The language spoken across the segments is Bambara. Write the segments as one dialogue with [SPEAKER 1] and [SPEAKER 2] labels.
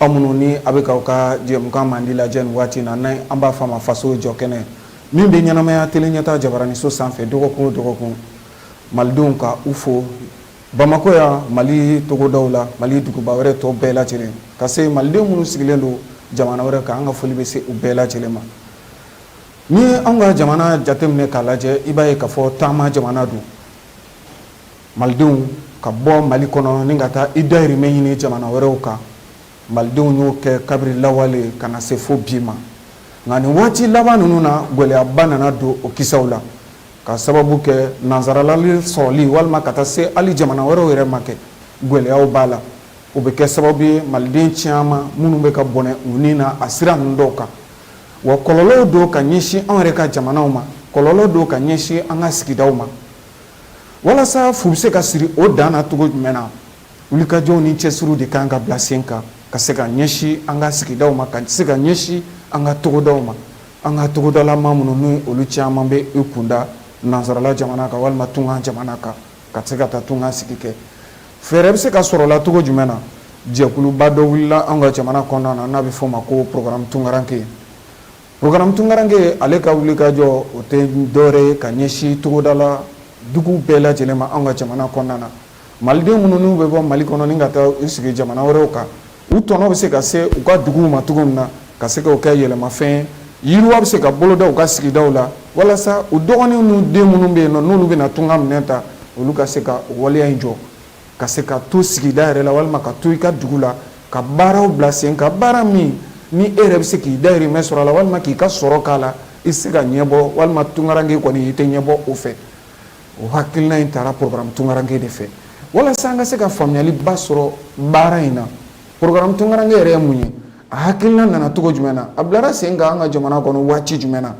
[SPEAKER 1] Aw minnu ni a bɛ k'aw ka jɛmukan mandi lajɛ nin waati in na, n'an an b'a fɔ a ma faso jɔ kɛnɛ, min bɛ ɲɛnamaya tele ɲɛtaa jabaraninso sanfɛ dɔgɔkun o dɔgɔkun, Malidenw ka u fo Bamakɔ yan, Mali togodaw la, Mali duguba wɛrɛ tɔ bɛɛ lajɛlen, ka se Maliden minnu sigilen don jamana wɛrɛ kan, an ka foli bɛ se u bɛɛ lajɛlen ma. N'i ye anw ka jamana jateminɛ k'a lajɛ, i b'a ye k'a fɔ taama jamana don. Malidenw ka bɔ mali kɔnɔ ni ka taa i dahirimɛ ɲini jamana wɛrɛw kan malidenw y'o kɛ kabiri lawale ka na se fo bi ma nka nin waati laban ninnu na gɛlɛyaba nana don o kisaw la ka sababu kɛ nansarala sɔrɔli walima ka taa se hali jamana wɛrɛw yɛrɛ ma kɛ gɛlɛya b'a la o bɛ kɛ sababu ye maliden caman minnu bɛ ka bɔnɛ u ni na a sira ninnu dɔw kan wa kɔlɔlɔ don ka ɲɛsin anw yɛrɛ ka jamanaw ma kɔlɔlɔ don ka ɲɛsin an ka sigida ma Walasa fu bɛ se ka siri o dan na cogo jumɛn na wulikajɔw ni cɛsiriw de kan ka bila sen kan ka se ka ɲɛsin an ka sigida ma ka se ka ɲɛsin an ka togodaw ma an ka togodalama minnu ni olu caman bɛ u kun da nansarala jamana kan walima tunga jamana kan ka se ka taa tunga sigi kɛ fɛɛrɛ bɛ se ka sɔrɔ a la cogo jumɛn na jɛkuluba dɔ wulila an ka jamana kɔnɔna na n'a bɛ fɔ o ma ko porogaramu tunkarankɛ Porogaramu tunkarankɛ ale ka wulikajɔ o tɛ dɔwɛrɛ ye ka ɲɛsin togodala dugu bɛɛ lajɛlen ma an ka jamana kɔnɔna na maliden minnu n'u bɛ bɔ mali kɔnɔ ni ka taa u sigi jamana wɛrɛw kan u tɔnɔ bɛ se ka se u ka dugu ma cogo min na ka se k'o kɛ yɛlɛmafɛn yiriwa bɛ se ka boloda u ka sigidaw la walasa u dɔgɔninw n'u den minnu bɛ yen nɔ n'olu bɛna tunga minɛn ta olu ka se ka o waleya in jɔ ka se ka to sigida yɛrɛ la walima ka to i ka dugu la ka baaraw bila sen kan baara min ni e yɛrɛ bɛ se k'i dahirimɛ sɔrɔ a la walima k'i ka sɔrɔ k'a la i se ka ɲɛbɔ walima tunkarankɛ kɔni i tɛ ɲɛbɔ o fɛ o hakilina in taara porogaramu tunkarankɛ de fɛ walasa an ka se ka faamuyaliba sɔrɔ baara in na porogaramu tunkarankɛ yɛrɛ ye mun ye a hakilina nana cogo jumɛn na a bilara sen kan an ka jamana kɔnɔ waati jumɛn na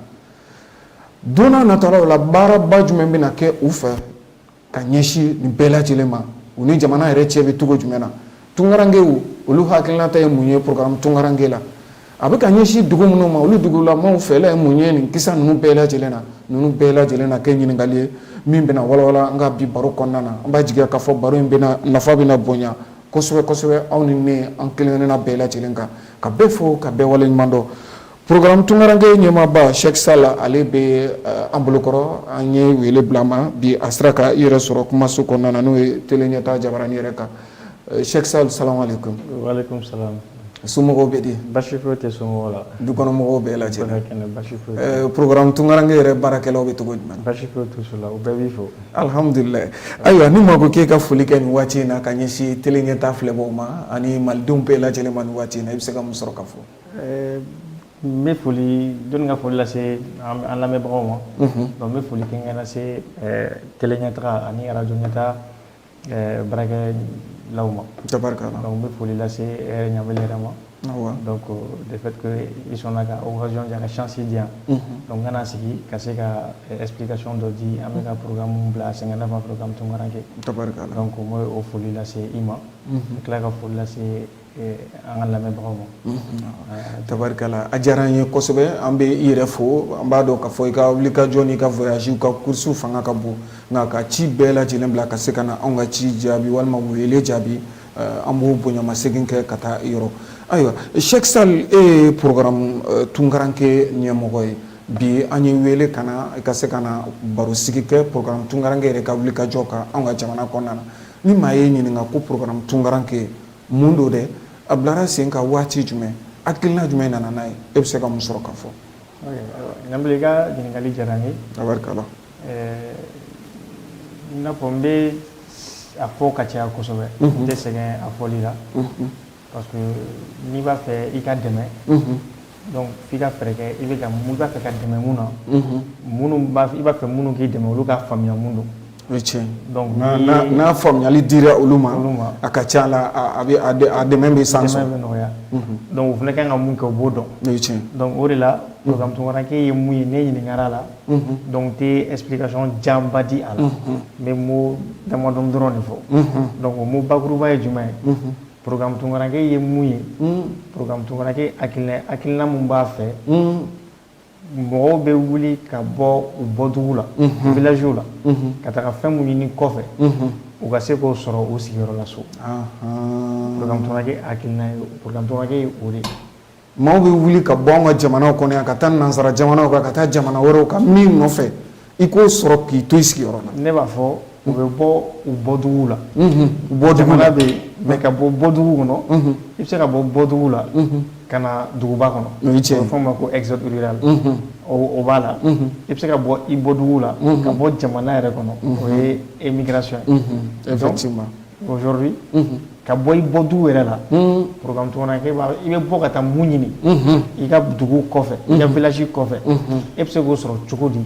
[SPEAKER 1] don nataw la baaraba jumɛn bɛna kɛ u fɛ ka ɲɛsin nin bɛɛ lajɛlen ma u ni jamana yɛrɛ cɛ bɛ cogo jumɛn na tunkarankɛw olu hakilinata ye mun ye porogaramu tunkarankɛ la a bɛ ka ɲɛsin dugu minnu ma olu dugulamaw fɛla ye mun ye nin kisa ninnu bɛɛ lajɛlen na ninnu bɛɛ lajɛlen na kɛ ɲininkali ye min bɛna walawala an ka bi baro kɔnɔna na an b'a jigi k'a fɔ baro in bɛna nafa bɛna bonya kosɛbɛ kosɛbɛ aw ni ne an kelen-kelenna bɛɛ lajɛlen kan ka bɛɛ fo ka bɛɛ waleɲumandɔn Programme Tunkaranke ɲɛmaaba Sheikh Sall ale bɛ an bolokɔrɔ an ye wele bila ma bi a sera ka i yɛrɛ sɔrɔ kumaso kɔnɔna na n'o ye tele ɲɛta jabarani yɛrɛ kan Sheikh Sall salamu alaikum
[SPEAKER 2] somɔgɔw bɛ di
[SPEAKER 1] basi tɛ somɔgɔw
[SPEAKER 2] la dukɔnɔmɔgɔw
[SPEAKER 1] bɛɛ
[SPEAKER 2] lajɛlen programme Tunkaranke
[SPEAKER 1] yɛrɛ baarakɛlaw bɛ cogo jumɛn
[SPEAKER 2] basi t'u la u bɛɛ b'i fo alihamdulila
[SPEAKER 1] ayiwa ni maa ko k'i ka foli kɛ nin waati in na ka ɲɛsin tele ɲɛta filɛbagaw ma ani malidenw bɛɛ lajɛlen ma nin waati in na i bɛ se ka mun sɔrɔ ka fɔ
[SPEAKER 2] N bɛ foli dɔnni ka foli lase an lamɛnbagaw ma n bɛ foli kɛ lase kɛlɛkɛ taga ani ara jɔn kata barakɛ la ma n bɛ foli
[SPEAKER 1] lase
[SPEAKER 2] ɲa yɛrɛ ma de sɔnna ka jɔn ka sisi di yan n kana sigi ka se ka p kasɔn dɔ di an bɛ ka pmu bila sɛgɛn ne ma pkan tɔnkɛ ko
[SPEAKER 1] n o foli
[SPEAKER 2] lase i ma n tila ka foli lase an ka lamɛnbagaw ma tabarikala
[SPEAKER 1] a diyara an ye kosɛbɛ an bɛ i yɛrɛ fo an b'a dɔn k'a fɔ i ka wuli ka jɔ n'i ka voyage ka course fanga ka bon nka ka ci bɛɛ lajɛlen bila ka se ka na an ka ci jaabi walima wele jaabi an b'o bonyamasegin kɛ ka taa i yɔrɔ ayiwa Sheikh Sall e ye programme Tunkaranke ɲɛmɔgɔ ye bi an ye wele ka na ka se ka na barosigi kɛ programme Tunkaranke yɛrɛ ka wuli ka jɔ kan an ka jamana kɔnɔna na ni maa ye ɲininka ko programme Tunkaranke mun don dɛ a bilara sen kan waati jumɛn hakilina jumɛn nana n'a ye e bɛ se ka mun sɔrɔ ka fɔ Ɲanbele i
[SPEAKER 2] ka ɲininkali diyara n ye tabarikala i n'a fɔ n bɛ a fɔ ka caya kosɛbɛ n tɛ sɛgɛn a fɔli la parce que n'i b'a fɛ i ka dɛmɛ Donc f'i ka fɛɛrɛ kɛ i b'a i b'a fɛ ka dɛmɛ mun na, unhun, minnu i b'a fɛ minnu k'i dɛmɛ olu ka faamuya mun don, o ye tiɲɛ ye, donc
[SPEAKER 1] n'a faamuyali dira olu ma, a ka ca a la a bɛ a dɛmɛ bɛ san sɔrɔ, a dɛmɛ bɛ nɔgɔya,
[SPEAKER 2] unhun, donc u fana ka kan ka mun kɛ u b'o dɔn, o ye tiɲɛ ye, donc
[SPEAKER 1] o de la
[SPEAKER 2] programme Tunkaranke ye mun ye ne ɲininkara a la, unhun, donc n tɛ explication janba di a la, unhun, n bɛ mot damadɔni dɔrɔn de fɔ, unhun, donc o mot bakuruba ye jumɛn ye, unhun Pmutukɛ ye mun ye pmutukɛ akiina min b'a fɛ mɔgɔw bɛ wuli ka bɔ u bɔt la vw la ka taga fɛn minnu ɲini kɔfɛ u ka se k'o sɔrɔ u sigiyɔrɔ laso pmutukɛ akiina pmutukɛ o de maaw bɛ
[SPEAKER 1] wuli ka bɔ an ka jamanaw kɔnɔ yan ka taa nansara jamanaw kan ka taa jamana wɛrɛw kan min nɔfɛ i k'o sɔrɔ k'i to i sigiyɔrɔ la ne b'a fɔ u bɛ
[SPEAKER 2] bɔ u bɔdugu la bɔ jamana bɛ yen mais ka bɔ u bɔdugu kɔnɔ i bɛ se ka bɔ bɔdugu la ka na duguba kɔnɔ a bɛ fɔ a ma ko exode rural o b'a la i bɛ se ka bɔ i bɔdugu la ka bɔ jamana yɛrɛ kɔnɔ o ye émigration ye effectivement
[SPEAKER 1] aujourd'hui
[SPEAKER 2] mhm. ka bɔ i bɔdugu yɛrɛ la mhm. programme tunkaranke i bɛ bɔ ka taa mun ɲini mhm. i ka dugu kɔfɛ i ka village kɔfɛ e bɛ se k'o sɔrɔ cogo di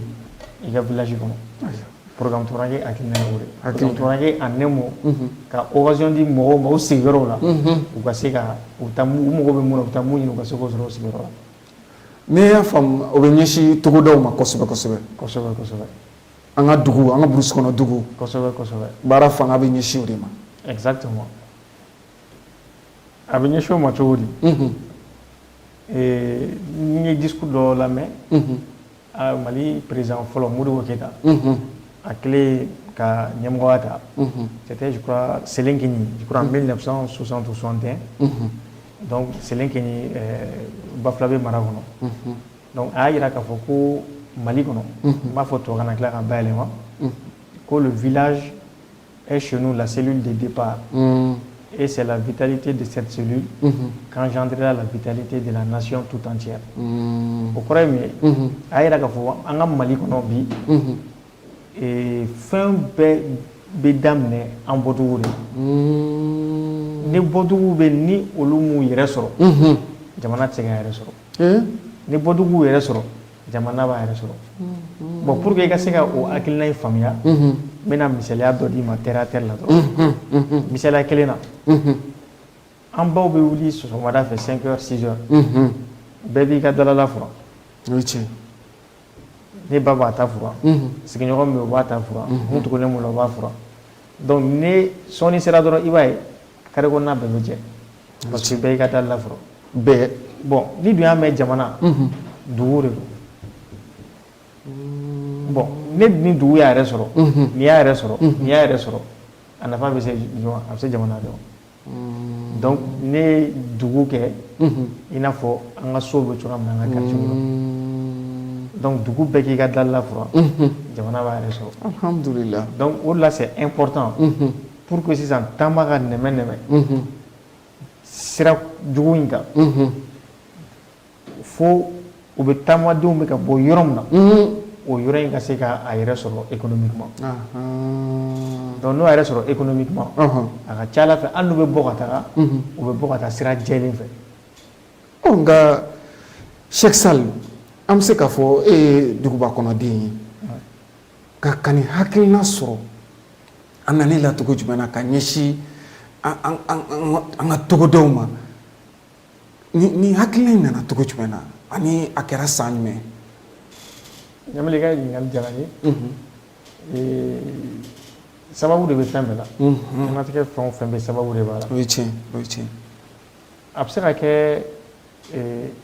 [SPEAKER 2] i ka village kɔnɔ programme tunkaranke hakilina ye o de ye programme tunkaranke en un mot ka occasion di mɔgɔw ma u sigiyɔrɔw la u ka se ka u taa u mago bɛ mun na u bɛ taa mun ɲini u ka se k'o sɔrɔ u sigiyɔrɔ la ne y'a
[SPEAKER 1] faamu o bɛ ɲɛsin togodaw ma kosɛbɛ kosɛbɛ kosɛbɛ kosɛbɛ an ka dugu an ka brousse kɔnɔ dugu kosɛbɛ
[SPEAKER 2] kosɛbɛ baara fanga
[SPEAKER 1] bɛ ɲɛsin o de ma
[SPEAKER 2] exactement a bɛ ɲɛsin o ma cogo di unhun ee n ye discours dɔ lamɛn unhun a Mali président fɔlɔ Modibo Keyita unhun a kɛlen ka ɲɛmɔgɔya ta unhun c'était je crois Selenkɛɲi je crois en 1960 ou 61 unhun donc Selenkɛɲi ɛɛ Bafulabe mara kɔnɔ unhun Donc a y'a jira k'a fɔ ko Mali kɔnɔ, unhun, n b'a fɔ tubabukan na n tila ka bayɛlɛma, unhun, ko le village est chez nous la cellule de départ, unhun, et c'est la vitalité de cette cellule, unhun, qu'engendrera la vitalité de la nation tout entière, unhun, o kɔrɔ ye mun ye, unhun, a y'a jira k'a fɔ an ka Mali kɔnɔ bi, unhun, ee, fɛn bɛɛ bɛ daminɛ an bɔdugu de la, unhun, ni bɔdugu bɛ ni olu m'u yɛrɛ sɔrɔ, unhun, jamana tɛ se k'a yɛrɛ sɔrɔ. ni bɔdugu yɛrɛ sɔrɔ jamana b'a yɛrɛ sɔrɔ bon pour que i ka se ka o hakilina in faamuya n bɛna misaliya dɔ d'i ma terre à terre la dɔrɔn misaliya kelen na an baw bɛ wuli sɔgɔmada fɛ 5 heures 6 heures bɛɛ b'i ka dalala furan tiɲɛ ne ba b'a ta furan sigiɲɔgɔn min bɛ o b'a ta furan min tugulen b'o la o b'a furan donc ni sɔɔni sera dɔrɔn i b'a ye carré kɔnɔna bɛɛ bɛ jɛ parce que bɛɛ y'i ka dalala furan
[SPEAKER 1] bɛɛ bon n'i dun
[SPEAKER 2] y'a mɛn jamana dugu de don bon ne ni dugu y'a yɛrɛ sɔrɔ n'i y'a yɛrɛ sɔrɔ n'i y'a yɛrɛ sɔrɔ a nafa bɛ se a bɛ se jamana de ma donc ne ye dugu kɛ i n'a fɔ an ka so bɛ cogoya min na an ka quartier la donc dugu bɛɛ k'i ka dalala furan jamana b'a yɛrɛ sɔrɔ alhamdulila donc
[SPEAKER 1] o de la c'est
[SPEAKER 2] important pour que sisan taama ka nɛmɛ nɛmɛ sira jugu in kan fo u bɛ taamadenw bɛ ka bɔ yɔrɔ min na o yɔrɔ in ka se ka a yɛrɛ sɔrɔ économiquement donc n'o yɛrɛ sɔrɔ économiquement a ka c'a la fɛ hali n'u bɛ bɔ ka taga u bɛ bɔ ka taa sira jɛlen fɛ nka
[SPEAKER 1] Cheick Sall an bɛ se k'a fɔ e ye duguba kɔnɔden ye ka ka nin hakilina sɔrɔ a nana i la cogo jumɛn na ka ɲɛsin an ka togodaw ma ni hakilina in nana cogo jumɛn na ani a kɛra san jumɛn
[SPEAKER 2] ɲamali i ka ɲininkali diyara n ye mhm. sababu de bɛ fɛn bɛɛ la mhm. diɲɛnatigɛ fɛn o fɛn bɛ sababu de b'a la o ye tiɲɛ o ye tiɲɛ
[SPEAKER 1] a bɛ se
[SPEAKER 2] ka kɛ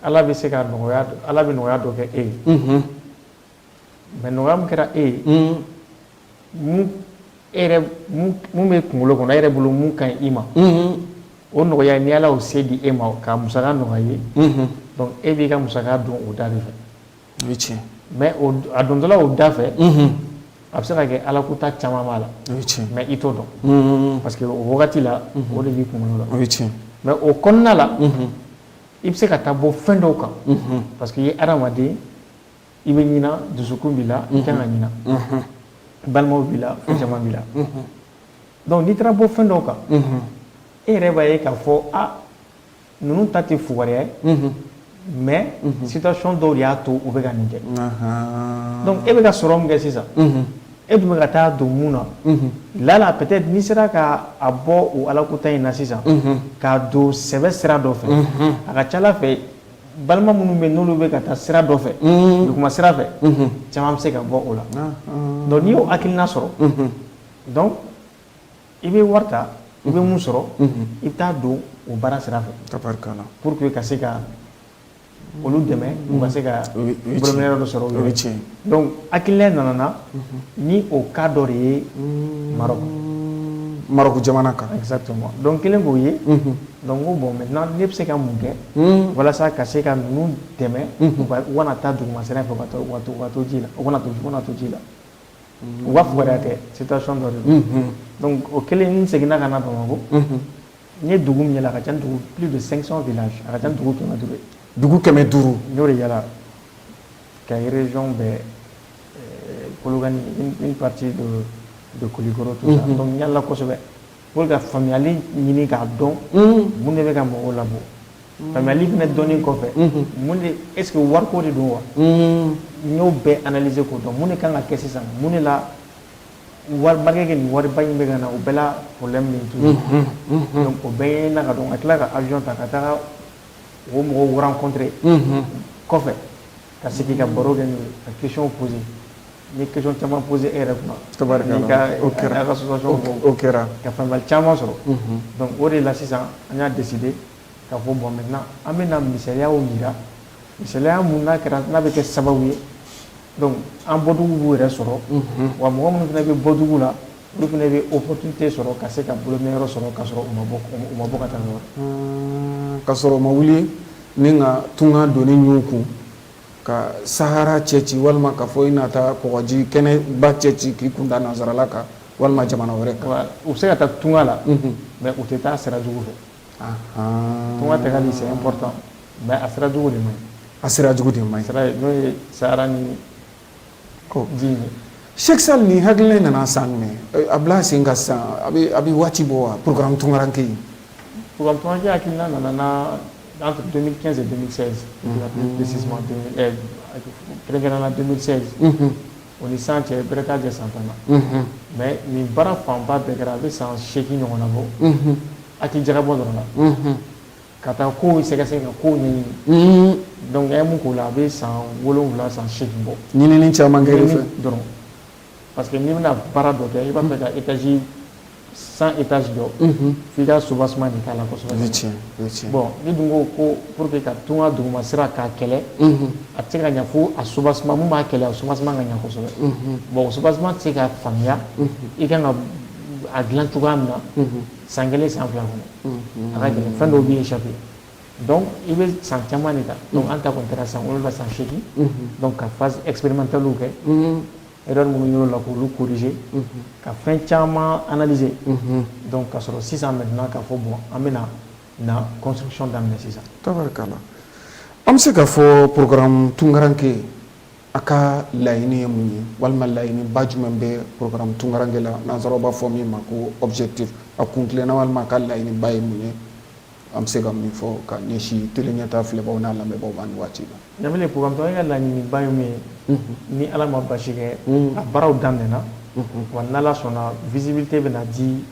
[SPEAKER 2] ala bɛ se ka nɔgɔya ala bɛ nɔgɔya dɔ kɛ e ye mhm. Mɛ nɔgɔya min kɛra e ye mun b'i kunkolo kɔnɔ e yɛrɛ bolo mun ka ɲi i ma o nɔgɔya ni ala y'o se di e ma ka musaka nɔgɔya i ye dɔnku e b'i ka musaka don o da de fɛ tiɲɛ
[SPEAKER 1] mɛ
[SPEAKER 2] a dontɔla o da fɛ a bɛ se ka kɛ ala kuta caman b'a la mɛ i
[SPEAKER 1] t'o
[SPEAKER 2] dɔn parce que o wagati la o de b'i kunkolo la tiɲɛ mɛ
[SPEAKER 1] o kɔnɔna la
[SPEAKER 2] i bɛ se ka taa bɔ fɛn dɔw kan parce que i ye adamaden i bɛ ɲina dusukun b'i la i kan ka ɲina balimaw b'i la fɛn caman b'i la dɔnku n'i taara bɔ fɛn dɔw kan e yɛrɛ b'a ye k'a fɔ a ninnu ta tɛ fugariya ye mɛ situation dɔw de y'a to u bɛ ka nin kɛ dɔnku e bɛ ka sɔrɔ min kɛ sisan e dun bɛ ka taa don mun na lala peut-être n'i sera ka a bɔ o ala kuta in na sisan k'a don sɛbɛ sira dɔ fɛ a ka ca la fɛ balima minnu bɛ n'olu bɛ ka taa sira dɔ fɛ duguma sira fɛ caman bɛ se ka bɔ o la dɔnku n'i y'o hakilina sɔrɔ dɔnku i bɛ wari ta i bɛ min sɔrɔ i bɛ taa don o baara sira fɛ pour que
[SPEAKER 1] ka se ka
[SPEAKER 2] olu dɛmɛ u ka se ka bolominɛyɔrɔ dɔ sɔrɔ o ye tiɲɛ
[SPEAKER 1] Dɔnku
[SPEAKER 2] hakilina nana ni o cas dɔ de
[SPEAKER 1] ye marɔku marɔku jamana kan exactement dɔnku n kɛlen
[SPEAKER 2] k'o ye dɔnku n ko bon maintenant ne bɛ se ka mun kɛ walasa ka se ka ninnu dɛmɛ u kana taa duguma sira fɛ ka to ji la u kana to u to ji la u b'a fugariya tɛ situation dɔ de don dɔnku o kɛlen n seginna ka na bamakɔ n ye dugu min yala a ka ca ni dugu plus de cinq cents villages a ka ca ni dugu kɛmɛ duuru ye dugu kɛmɛ duuru
[SPEAKER 1] n y'o de yala
[SPEAKER 2] Kayi région bɛɛ kolokani une partie de kulikɔrɔ tout ça dɔnku n yalala kosɛbɛ pour ka faamuyali ɲini k'a dɔn mun de bɛ ka mɔgɔw labɔ faamuyali fana dɔnni kɔfɛ mun de est-ce que wari ko de don wa n y'o bɛɛ analyser k'o dɔn mun de kan ka kɛ sisan mun de la waribakɛ nin wariba in bɛ ka na o bɛɛ la problème min tu dɔnku o bɛɛ ye na ka dɔn ka tila ka awiyɔn ta ka taa o mɔgɔw rencontrer kɔfɛ ka sigi ka baro kɛ ka question poser n ye question caman poser e yɛrɛ kuma
[SPEAKER 1] kɛra ka association
[SPEAKER 2] kɛra ka
[SPEAKER 1] faamuyali caman sɔrɔ
[SPEAKER 2] donc o de la sisan an y'a décider ka fɔ bon maintenant an bɛ na misaliyaw yira misaliya mun n'a kɛra n'a bɛ kɛ sababu ye donc an bɔdugu b'u yɛrɛ sɔrɔ wa mɔgɔ minnu fana bɛ bɔdugu la olu fana bɛ opportunité sɔrɔ ka se ka bolominɛyɔrɔ sɔrɔ ka sɔrɔ u ma bɔ u ma bɔ ka taa nɔ na ka sɔrɔ u ma
[SPEAKER 1] wuli ni ka tunga doni ɲun u kun ka sahara cɛci walima ka fɔ i na taa kɔgɔji kɛnɛba cɛci k'i kun da nansarala kan walima jamana wɛrɛ kan Voilà. u bɛ se ka taa tunga
[SPEAKER 2] la mais u tɛ taa sira jugu fɛ Ahan. tunga tagali c'est important mais a sira jugu de man ɲi a sira jugu de man ɲi sira
[SPEAKER 1] n'o ye sahara
[SPEAKER 2] ni Sɛsa ni
[SPEAKER 1] hakili nana san minɛ a bila sen ka san a bɛ waati bɔ wa pkan tunkarake yen
[SPEAKER 2] nana nana o ni san cɛ bere kɛ san tan na mɛ nin baara fanba bɛɛ kɛra a bɛ san seki ɲɔgɔn na bɔ a tɛ jara bɔ dɔrɔn na Ka taa kow sɛgɛsɛgɛ ka kow ɲɛɲini donc an ye min k'o la a bɛ san wolonwula san seegin bɔ ɲinini caman
[SPEAKER 1] kɛ dɔrɔn
[SPEAKER 2] parce que n'i bɛna baara dɔ kɛ i b'a fɛ ka étage cent étages jɔ f'i ka soubassement de k'a la kosɛbɛ bon n'i dun ko ko pour que ka tunga duguma sira k'a kɛlɛ a tɛ se ka ɲɛ fo a soubassement min b'a kɛlɛ a soubassement ka ɲɛ kosɛbɛ bon o soubassement tɛ se ka faamuya i kan ka a dilan cogoya min na san kelen san fila kɔnɔ a ka gɛlɛn fɛn dɔw b'i échapper donc i bɛ san caman de ta donc an ta kɔni kɛra san wolonwula san seegin donc ka phase expérimentale kɛ erreur minnu y'o la k'olu corriger ka fɛn caman analyser donc ka sɔrɔ sisan maintenant k'a fɔ bon an bɛna na construction daminɛ sisan tabarikala
[SPEAKER 1] an bɛ se k'a fɔ programme tunkaranke a ka laɲini ye mun ye walima laɲini ba jumɛn bɛ programme tunkaranke la nansaraw b'a fɔ min ma ko objectif a kun tilenna walima a ka laɲini ba ye mun ye an bɛ se ka min fɔ ka ɲɛsin tele ɲɛta filɛbagaw n'a lamɛnbagaw ma nin waati la ɲa programme tunkaranke ka
[SPEAKER 2] laɲini ba ye min ye ni ala ma basi kɛ a baaraw daminɛna wa n'ala sɔnna visibilité bɛ na di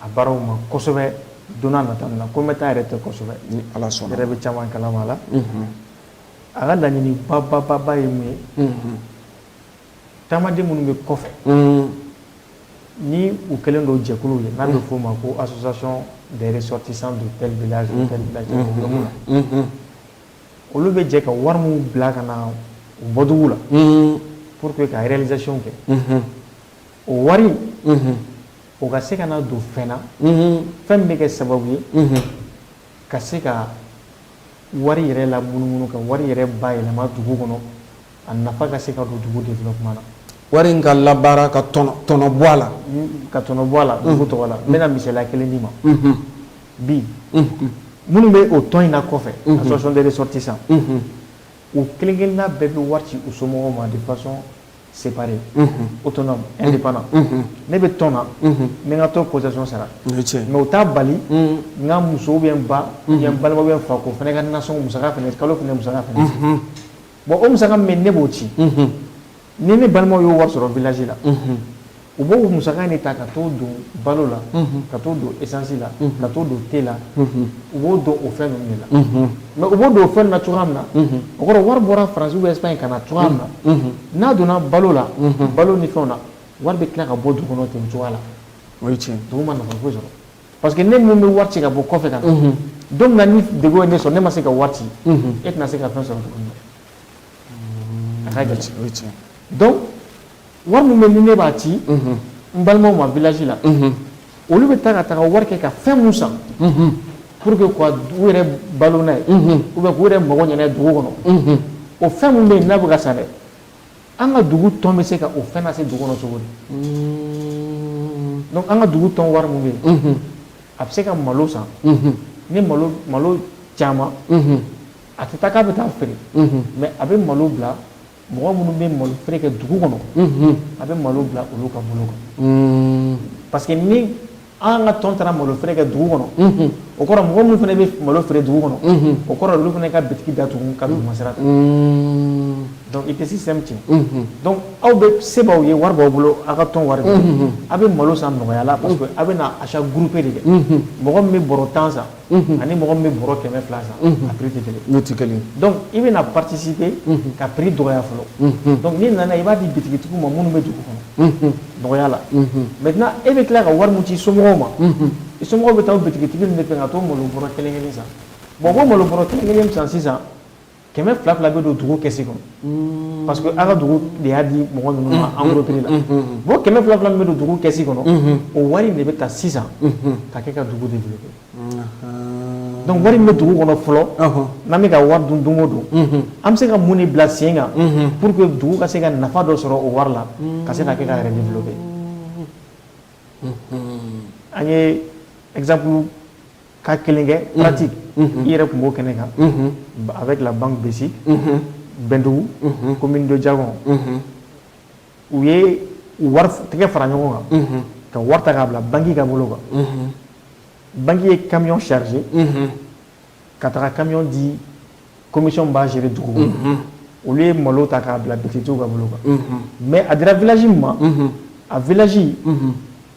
[SPEAKER 2] a baaraw ma kosɛbɛ don nata la ko bɛ taa yɛrɛ tɛ kosɛbɛ ni ala sɔnna yɛrɛ bɛ
[SPEAKER 1] caman kalama la
[SPEAKER 2] A ka laɲini bababa ye mun ye taamaden minnu bɛ kɔfɛ ni u kɛlen don jɛkulu ye n'a bɛ f'o ma ko association des ressortissants de tel village ou tel village olu bɛ jɛ ka wari minnu bila ka na u bɔdugu la pour que ka réalisation kɛ o wari o ka se ka na don fɛn na fɛn min bɛ kɛ sababu ye Ka se ka wari yɛrɛ lamunumunu ka wari yɛrɛ bayɛlɛma dugu kɔnɔ a nafa ka se ka don dugu développement na wari in ka labaara
[SPEAKER 1] ka tɔnɔ bɔ a la ka tɔnɔ bɔ a
[SPEAKER 2] la dugu tɔgɔ la n bɛna misaliya kelen d'i ma bi minnu bɛ o tɔn in na kɔfɛ association des ressortissants u kelen-kelenna bɛɛ bɛ wari ci u somɔgɔw ma de façon Seri o tɔn e pan ne bɛ tɔn na ne ka to kɔsɔn sara mɛ u taa bali n ka musow bɛ ba balima bɛ fa ko fana ka na sɔn mu kalo tun musa bon o mu min ne b'o ci ni ne balima y'o wa sɔrɔ vlaji la U b'o musaka in de ta ka t'o don balo la ka t'o don esansi la ka t'o don te la u b'o don o fɛn ninnu de la mais u b'o don o fɛn na cogoya min na o kɔrɔ wari bɔra France ou bien Espagne ka na cogoya min na n'a donna balo la balo ni o fɛnw na
[SPEAKER 1] wari
[SPEAKER 2] bɛ tila ka bɔ dugu kɔnɔ ten cogoya la o cɛ dugu ma nafa sɔrɔ parce que ne min bɛ wari ci ka bɔ kɔfɛ ka na donc ni degun ye ne sɔrɔ ne ma se ka wari ci e tɛna se ka fɛn sɔrɔ tugun A ka gɛlɛn donc wari min bɛ ni ne b'a ci n balimaw ma village la olu bɛ taa ka taga wari kɛ ka fɛn min san pour que u yɛrɛ balo n'a ye ou bien k'u yɛrɛ mago ɲɛ n'a ye dugu kɔnɔ o fɛn min bɛ yen n'a bɛ ka san dɛ an ka dugu tɔn bɛ se ka o fɛn lase dugu kɔnɔ cogo di an ka dugu tɔn wari min bɛ yen a bɛ se ka malo san ni malo caman a tɛ taa k'a bɛ taa feere mais a bɛ malo bila mɔgɔ minnu bɛ malo feere kɛ dugu kɔnɔ a bɛ malo bila olu ka bolo kan parce que ni an ka tɔn taara malo feere kɛ dugu kɔnɔ o kɔrɔ mɔgɔ minnu fana bɛ malo feere dugu kɔnɔ o kɔrɔ olu fana ka bitigi datugu ka duguma sira ta donc i tɛ système tiɲɛ donc aw bɛ se b'aw ye wari b'aw bolo aw ka tɔn wari aw bɛ malo san nɔgɔya la parce que a bɛna achat groupé de kɛ mɔgɔ min bɛ bɔrɔ tan san ani mɔgɔ min bɛ bɔrɔ kɛmɛ fila san a prix tɛ kelen donc i bɛna participer ka prix dɔgɔya fɔlɔ donc n'i nana i b'a di bitigitigiw ma minnu bɛ dugu kɔnɔ dɔgɔya la maintenant e bɛ tila ka wari min ci somɔgɔw ma i somɔgɔw bɛ taa bitigitigi de fɛ ka t'o malo bɔrɔ kelen kelen san bon o malo bɔrɔ kelen kelen san sisan kɛmɛ fila fila bɛ don dugu kɛsi kɔnɔ parce que an ka dugu de y'a di mɔgɔ ninnu ma en gros prix la bon kɛmɛ fila fila min bɛ don dugu kɛsi kɔnɔ o wari de bɛ ta sisan ka kɛ ka dugu développer donc wari min bɛ dugu kɔnɔ fɔlɔ n'an bɛ ka wari dun don o don an bɛ se ka mun de bila sen kan pour que dugu ka se ka nafa dɔ sɔrɔ o wari la ka se ka kɛ ka yɛrɛ développer an ye ka kelen kɛ pratique i yɛrɛ tun b'o kɛnɛ kan avec la banque BSIC Bɛndugu commune de Diakon u ye wari tɛgɛ fara ɲɔgɔn kan ka wari ta k'a bila banki ka bolo kan banki ye camion charger ka taga camion di commission b'a gérer dugu kɔnɔ olu ye malo ta k'a bila bitigitigiw ka bolo kan mais a dira village min ma a village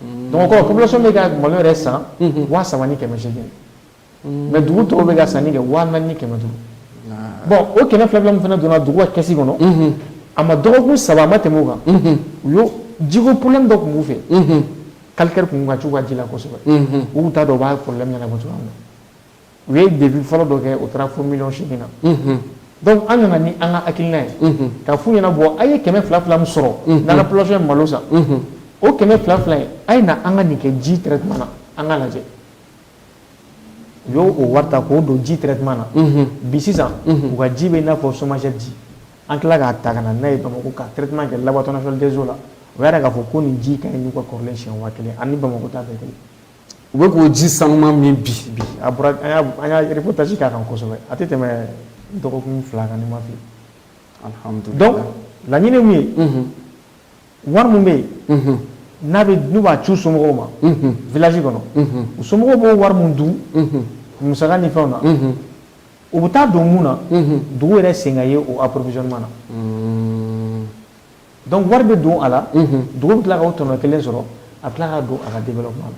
[SPEAKER 2] Donc o kɔrɔ population bɛ ka malo yɛrɛ san waa saba ni kɛmɛ segin mais dugu tɔw bɛ ka sanni kɛ waa naani ni kɛmɛ duuru bon o kɛmɛ fila fila min fana donna dugu ka kɛsi kɔnɔ a ma dɔgɔkun saba a ma tɛmɛ o kan u y'o jiko problème dɔ tun b'u fɛ calcaire tun ka c'u ka ji la kosɛbɛ u t'a dɔn u b'a problème ɲɛnabɔ cogoya min na u ye devis fɔlɔ dɔ kɛ o taara fo miliyɔn segin na donc an nana ni an ka hakilina ye k'a f'u ɲɛna bon a ye kɛmɛ fila fila min sɔrɔ n'an ka population ye malo san o kɛmɛ fila fila in a ye na an ka nin kɛ ji traitement na an ka lajɛ u y'o wari ta k'o don ji traitement na bi sisan u ka ji bɛ i n'a fɔ SOMAGEP ji an tila k'a ta ka na n'a ye bamakɔ ka traitement kɛ laboratoire national des eaux la o yɛrɛ k'a fɔ ko nin ji ka ɲi n'u ka kɔrɔlen siɲɛ waa kelen ani bamakɔ ta bɛɛ kelen u bɛ k'o
[SPEAKER 1] ji sanuman min bi bi a
[SPEAKER 2] bɔra an y'a reportage k'a kan kosɛbɛ a tɛ tɛmɛ dɔgɔkun fila kan ni n ma fili alhamdulilayi donc laɲini min ye wari min bɛ yen n'a bɛ n'u b'a ci u somɔgɔw ma village kɔnɔ u somɔgɔw b'o wari min dun musaka ni fɛnw na o bɛ taa don mun na dugu yɛrɛ sen ka ye o approvisionnement na Dɔnku wari bɛ don a la dugu tila ka tɔnɔ kelen sɔrɔ a tila ka don a ka den kuma na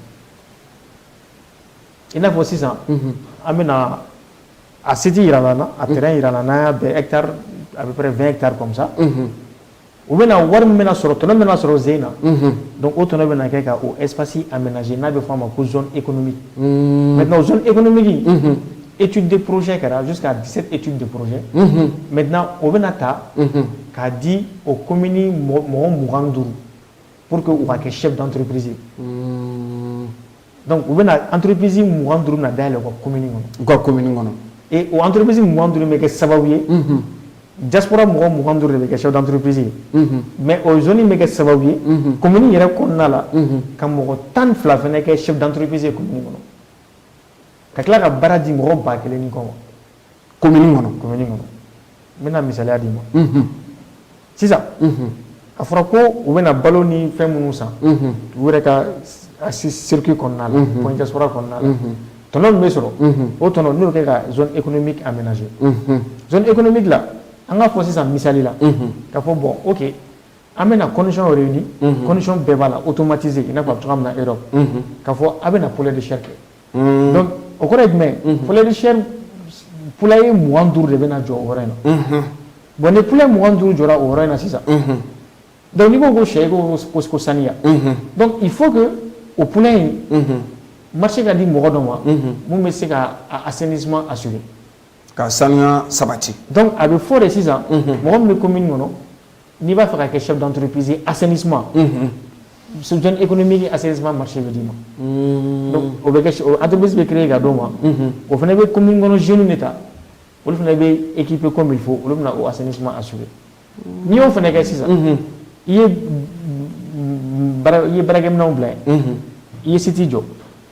[SPEAKER 2] i n'a fɔ sisan an bɛna a siji jira na a kɛra jira n' a bɛ fɛn tarimisa u bɛna wari min bɛna sɔrɔ tɔnɔ bɛna sɔrɔ sen na don o tɔnɔ bɛ kɛ ka epsi a minɛ n'a bɛ f'a ma ko z e kɔnɔmi mɛ e kɔnɔmigi etu de porose kɛra a se ka di etu de poroze mɛ o bɛna taa k'a di o komini mɔgɔ mugan duuru pour que u ka kɛ chef d'entreprise hmm. donc u bɛna entreprise mugan duuru bɛna dayɛlɛ u ka komini kɔnɔ u ka komini kɔnɔ et o entreprise mugan duuru bɛ kɛ sababu ye mhm. diaspora mɔgɔ mugan duuru de bɛ kɛ chef d'entreprise ye mhm. mais o zone bɛ kɛ sababu ye komini mhm. yɛrɛ kɔnɔna la ka mɔgɔ tan fila fɛnɛ kɛ chef d'entreprise ye komini kɔnɔ ka tila ka baara di mɔgɔ ba kelen ni kɔ ma
[SPEAKER 1] kɔnɔ
[SPEAKER 2] n bɛna misaliya d'i ma sisan a fɔra ko u bɛna balo ni fɛn minnu san u yɛrɛ ka circuit kɔnɔna la point diaspora kɔnɔna la tɔnɔ min bɛ sɔrɔ o tɔnɔ n'o kɛ ka zone économique aménager zone économique la an k'a fɔ sisan misali la ka fɔ bon ok an bɛna condition réunie condition bɛɛ b'a la automatisé i n'a fɔ a bɛ cogoya min na Europe ka fɔ a bɛna poulet de chair kɛ. donc o kɔrɔ ye jumɛn poulet de chair poulailler mugan duuru de bɛna jɔ o yɔrɔ in na bon ni poulailler mugan duuru jɔra o yɔrɔ in na sisan donc n'i ko ko sɛ ko ko saniya donc il faut que o poulailler in marché ka di mɔgɔ dɔ ma mun bɛ se ka assainissement assurer ka saniya
[SPEAKER 1] sabati donc a bɛ fɔ de
[SPEAKER 2] sisan mɔgɔ min bɛ commune kɔnɔ N'i b'a fɛ ka kɛ chef d'entreprise ye assainissement unhun zone économique in assainissement marché bɛ d'i ma unn donc o bɛ kɛ ch o entreprise bɛ créer ka d'o ma unhun o fana bɛ commune kɔnɔ jeunes de ta olu fana bɛ équiper comme il faut olu bɛna o assainissement assurer n'i y'o fana kɛ sisan unhun i ye b b baara i ye baarakɛminɛnw bila yen unhun i ye site jɔ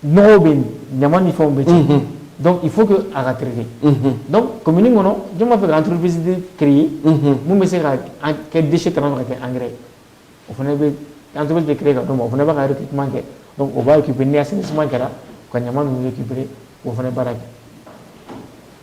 [SPEAKER 1] n bɛ yen ɲama ni fɛnw bɛ cɛ dɔnku i fo a ka terikɛ dɔn kɔmi kɔnɔ j b'a fɛ ka antosi ke ye minnu bɛ se ka kɛ disi kana ka kɛ an o fana bɛ an teri tɛ ke ka dɔn o fana ne bɛki kuma kɛ o b'a k'isi kɛra ka ɲama ninnu kipere o fana baara kɛ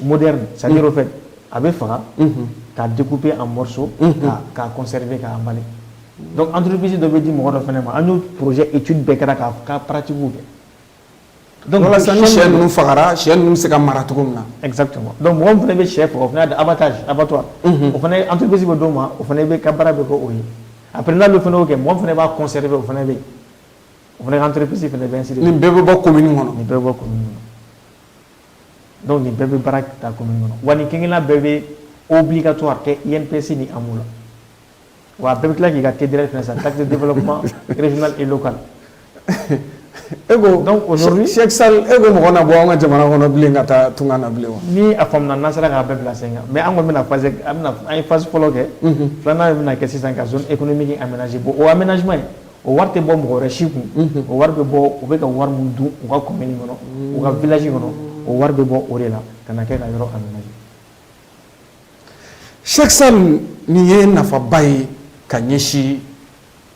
[SPEAKER 1] moderne c'est à dire au fait a bɛ faga k'a découper en morceaux ka k'a conserver k'a emballer donc entreprise dɔ bɛ di mɔgɔ dɔ fana ma an y'o projet étude bɛɛ kɛra ka k'a pratique kɛ donc walasa ni sɛ ninnu fagara sɛ ninnu bɛ se ka mara cogo min na exactement donc mɔgɔ
[SPEAKER 2] min fana bɛ sɛ faga o fana abattage abattoir o fana entreprise bɛ d'o ma o fana bɛ ka baara bɛ kɛ o ye après n'ale fana y'o kɛ mɔgɔ min fana b'a conserver o fana bɛ yen o fana ka entreprise fana bɛ ainsi de suite nin bɛɛ bɛ bɔ commune kɔnɔ
[SPEAKER 1] nin bɛɛ bɛ bɔ commune kɔnɔ
[SPEAKER 2] dɔnku nin bɛɛ bɛ baara ta ko min kɔnɔ wa ni kelenla bɛɛ bɛ o bi ka to a kɛ i psi ni an la wa bɛɛ bɛ tila k'i ka ke dɛrɛ fɛ sa ta de bolo kuma e lo kan
[SPEAKER 1] e ko sa e ko mɔgɔ na bɔ an ka jamana kɔnɔ bilen ka taa tun na bilen ni a faamuya n'a sera
[SPEAKER 2] k'a bɛɛ bila sen kan mɛ an kɔni bɛna fase an ye fasi fɔlɔ kɛ filanan' bɛna kɛ sisan ka e kɔni min a minɛ bɔ o a minɛnansi ye o wari tɛ bɔ mɔgɔ wɛrɛ si kun o wari bɛ bɔ u bɛ ka wari min don u ka commune kɔnɔ u ka village kɔnɔ o wari bɛ bɔ o de la ka na kɛ ka yɔrɔ
[SPEAKER 1] aménager Cheikh Sall nin ye nafaba ye ka ɲɛsin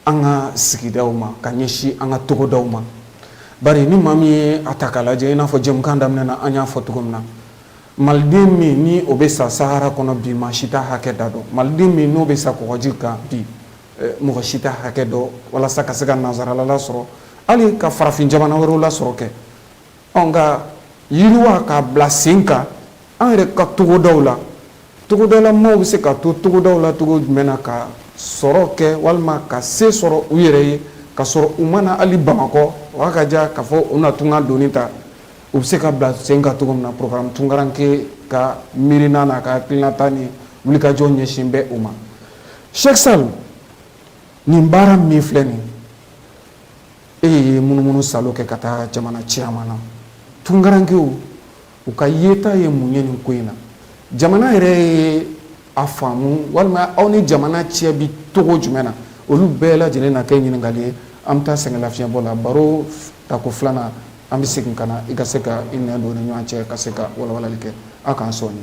[SPEAKER 1] an ka sigida ma ka ɲɛsin an ka togodaw ma bari ni maa min ye a ta k'a lajɛ i n'a fɔ jɛmukan daminɛ na an y'a fɔ cogo min na maliden min ni o bɛ sa sahara kɔnɔ bi maa si t'a hakɛ da dɔn maliden min n'o bɛ sa kɔgɔji kan bi mɔgɔ si t'a hakɛ dɔn walasa ka se ka nansarala lasɔrɔ hali ka farafin jamana wɛrɛw lasɔrɔ kɛ nka yiriwa k'a bila sen kan an yɛrɛ ka togodaw la togodala maaw bɛ se ka to togodaw la cogo jumɛn na ka sɔrɔ kɛ walima ka se sɔrɔ u yɛrɛ ye ka sɔrɔ u ma na hali Bamakɔ o ka diya k'a fɔ u na tunga doni ta u bɛ se ka bila sen kan cogo min na programme tunkarankɛ ka miirina n'a ka hakilinata ni wulikajɔ ɲɛsinnen bɛ u ma Cheikh Sall nin baara min filɛ nin ye, e ye munumunu salo kɛ ka taa jamana caman na, tunkarankew u ka yeta ye mun ye nin ko in na? Jamana yɛrɛ ye a faamu walima aw ni jamana cɛ bɛ cogo jumɛn na? Olu bɛɛ lajɛlen na kɛ ɲininkali ye. An bɛ taa sɛgɛnlafiɲɛbɔ la, baro tako filanan an bɛ segin ka na i ka se ka i nɛn don u ni ɲɔgɔn cɛ ka se ka walawalali kɛ. Aw k'an sɔɔni.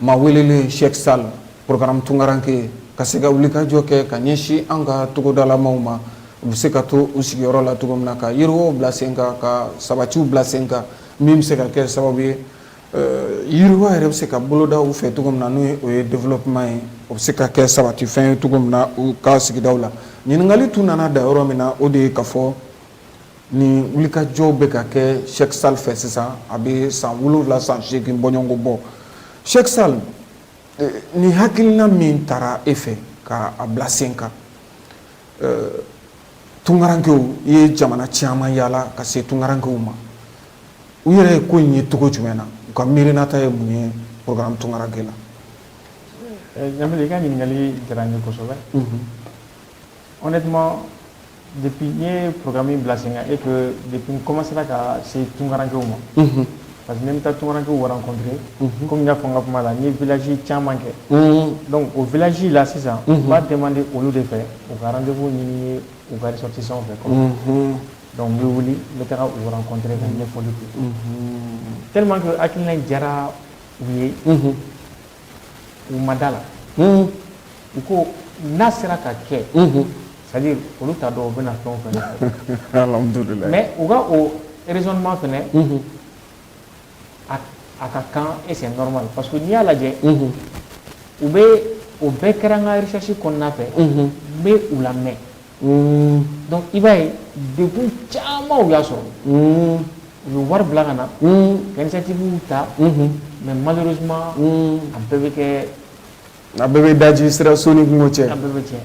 [SPEAKER 1] Maa welelen Cheikh Sall programme tunkaranke ka se ka wulikajɔ kɛ ka ɲɛsin an ka togodalamaw ma u bɛ se ka to u sigiyɔrɔ la cogo min na ka yiriwaw bila sen kan ka sabatiw bila sen kan min bɛ se ka kɛ sababu ye yiriwa yɛrɛ bɛ se ka boloda u fɛ cogo min na n' o ye développement ye o bɛ se ka kɛ sabatifɛn ye cogo min na u ka sigida la ɲininkali tun nana da yɔrɔ min na o de ye ka fɔ Nin wulikajɔ bɛ ka kɛ Cheikh Sall fɛ sisan a bɛ san wolowula san seegin bɔɲɔgɔnko bɔ Cheikh Sall nin hakilina min taara e fɛ ka a bila sen kan tunkarankew i ye jamana caman yaala ka se tunkarankew ma u yɛrɛ ye ko in ye cogo jumɛn na u ka miirinata ye mun ye programme tunkaranke
[SPEAKER 2] la Ɲamile i ka ɲininkali diyara n ye kosɛbɛ honnêtement depuis n ye programme in bila sen kan et que depuis n commencera ka se tunkarankew ma unhun parce que ne bɛ taa tunkarankew rencontrer unhun comme n y'a fɔ n ka kuma la n ye village caman kɛ unhun donc o village la sisan unhun n b'a demander olu de fɛ u ka rendez-vous ɲini n ye u ka ressortissants fɛ quoi unhun donc n bɛ wuli n bɛ taga u rencontrer ka ɲɛfɔli kɛ unhun tellement que hakilina in diyara u ye unhun u ma da la u ko n'a sera ka kɛ c'est-à-dire olu t'a dɔn u bɛna fɛn o fɛn kɛ mais
[SPEAKER 1] u ka o
[SPEAKER 2] raisonnement fɛnɛ a ka kan et c'est normal parce que n'i y'a lajɛ u bɛ o bɛɛ kɛra n ka recherche kɔnɔna fɛ n bɛ u lamɛn dɔnku i b'a ye dekun caman y'a sɔrɔ u ye wari bila ka na kɛlɛsɛtigiw ta mɛ mali suma a bɛɛ bɛ kɛ a bɛɛ bɛ
[SPEAKER 1] daji sira soni cɛ bɛɛ bɛ cɛ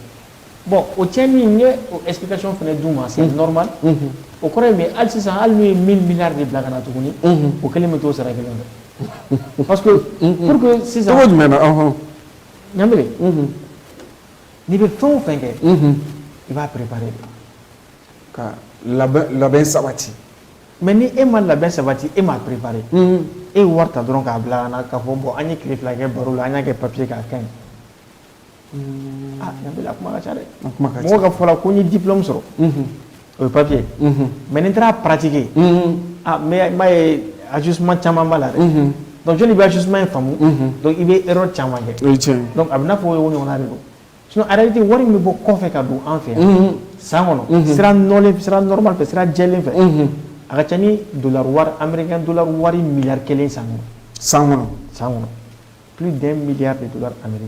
[SPEAKER 2] bɔn o cɛ min ye epkay fana du ma se nɔrɔma o kɔrɔ in ali sisan hali ye min min de bila ka na tuguni o kelen bɛ to sara kelen pa sisan jumɛn na
[SPEAKER 1] ɲa
[SPEAKER 2] N'i bɛ fɛn o fɛn kɛ i b'a préparer
[SPEAKER 1] ka labɛn sabati mais ni e
[SPEAKER 2] ma labɛn sabati e m'a préparer e ye wari ta dɔrɔn k'a bila ka na k'a fɔ bon an ye tile fila kɛ baro la an y'a kɛ papiye kan a ka ɲi Ɲamile a kuma ka ca dɛ mɔgɔ k'a fɔ la ko n ye diplôme sɔrɔ O ye papiye mɛ nin taara patigi ma ye a dusuuman caman b'a la dɛ bɛ dusuuma ye faamumu i bɛ yɔrɔ caman kɛ a bɛ fɔ o ɲɔgɔn de don aleti wari min bɔ kɔfɛ ka don an fɛ san kɔnɔ sira nɔma fɛ sira jɛlen fɛ a ka ca ni anla wari mi kelen san san san kɔnɔ p de miya de don ameri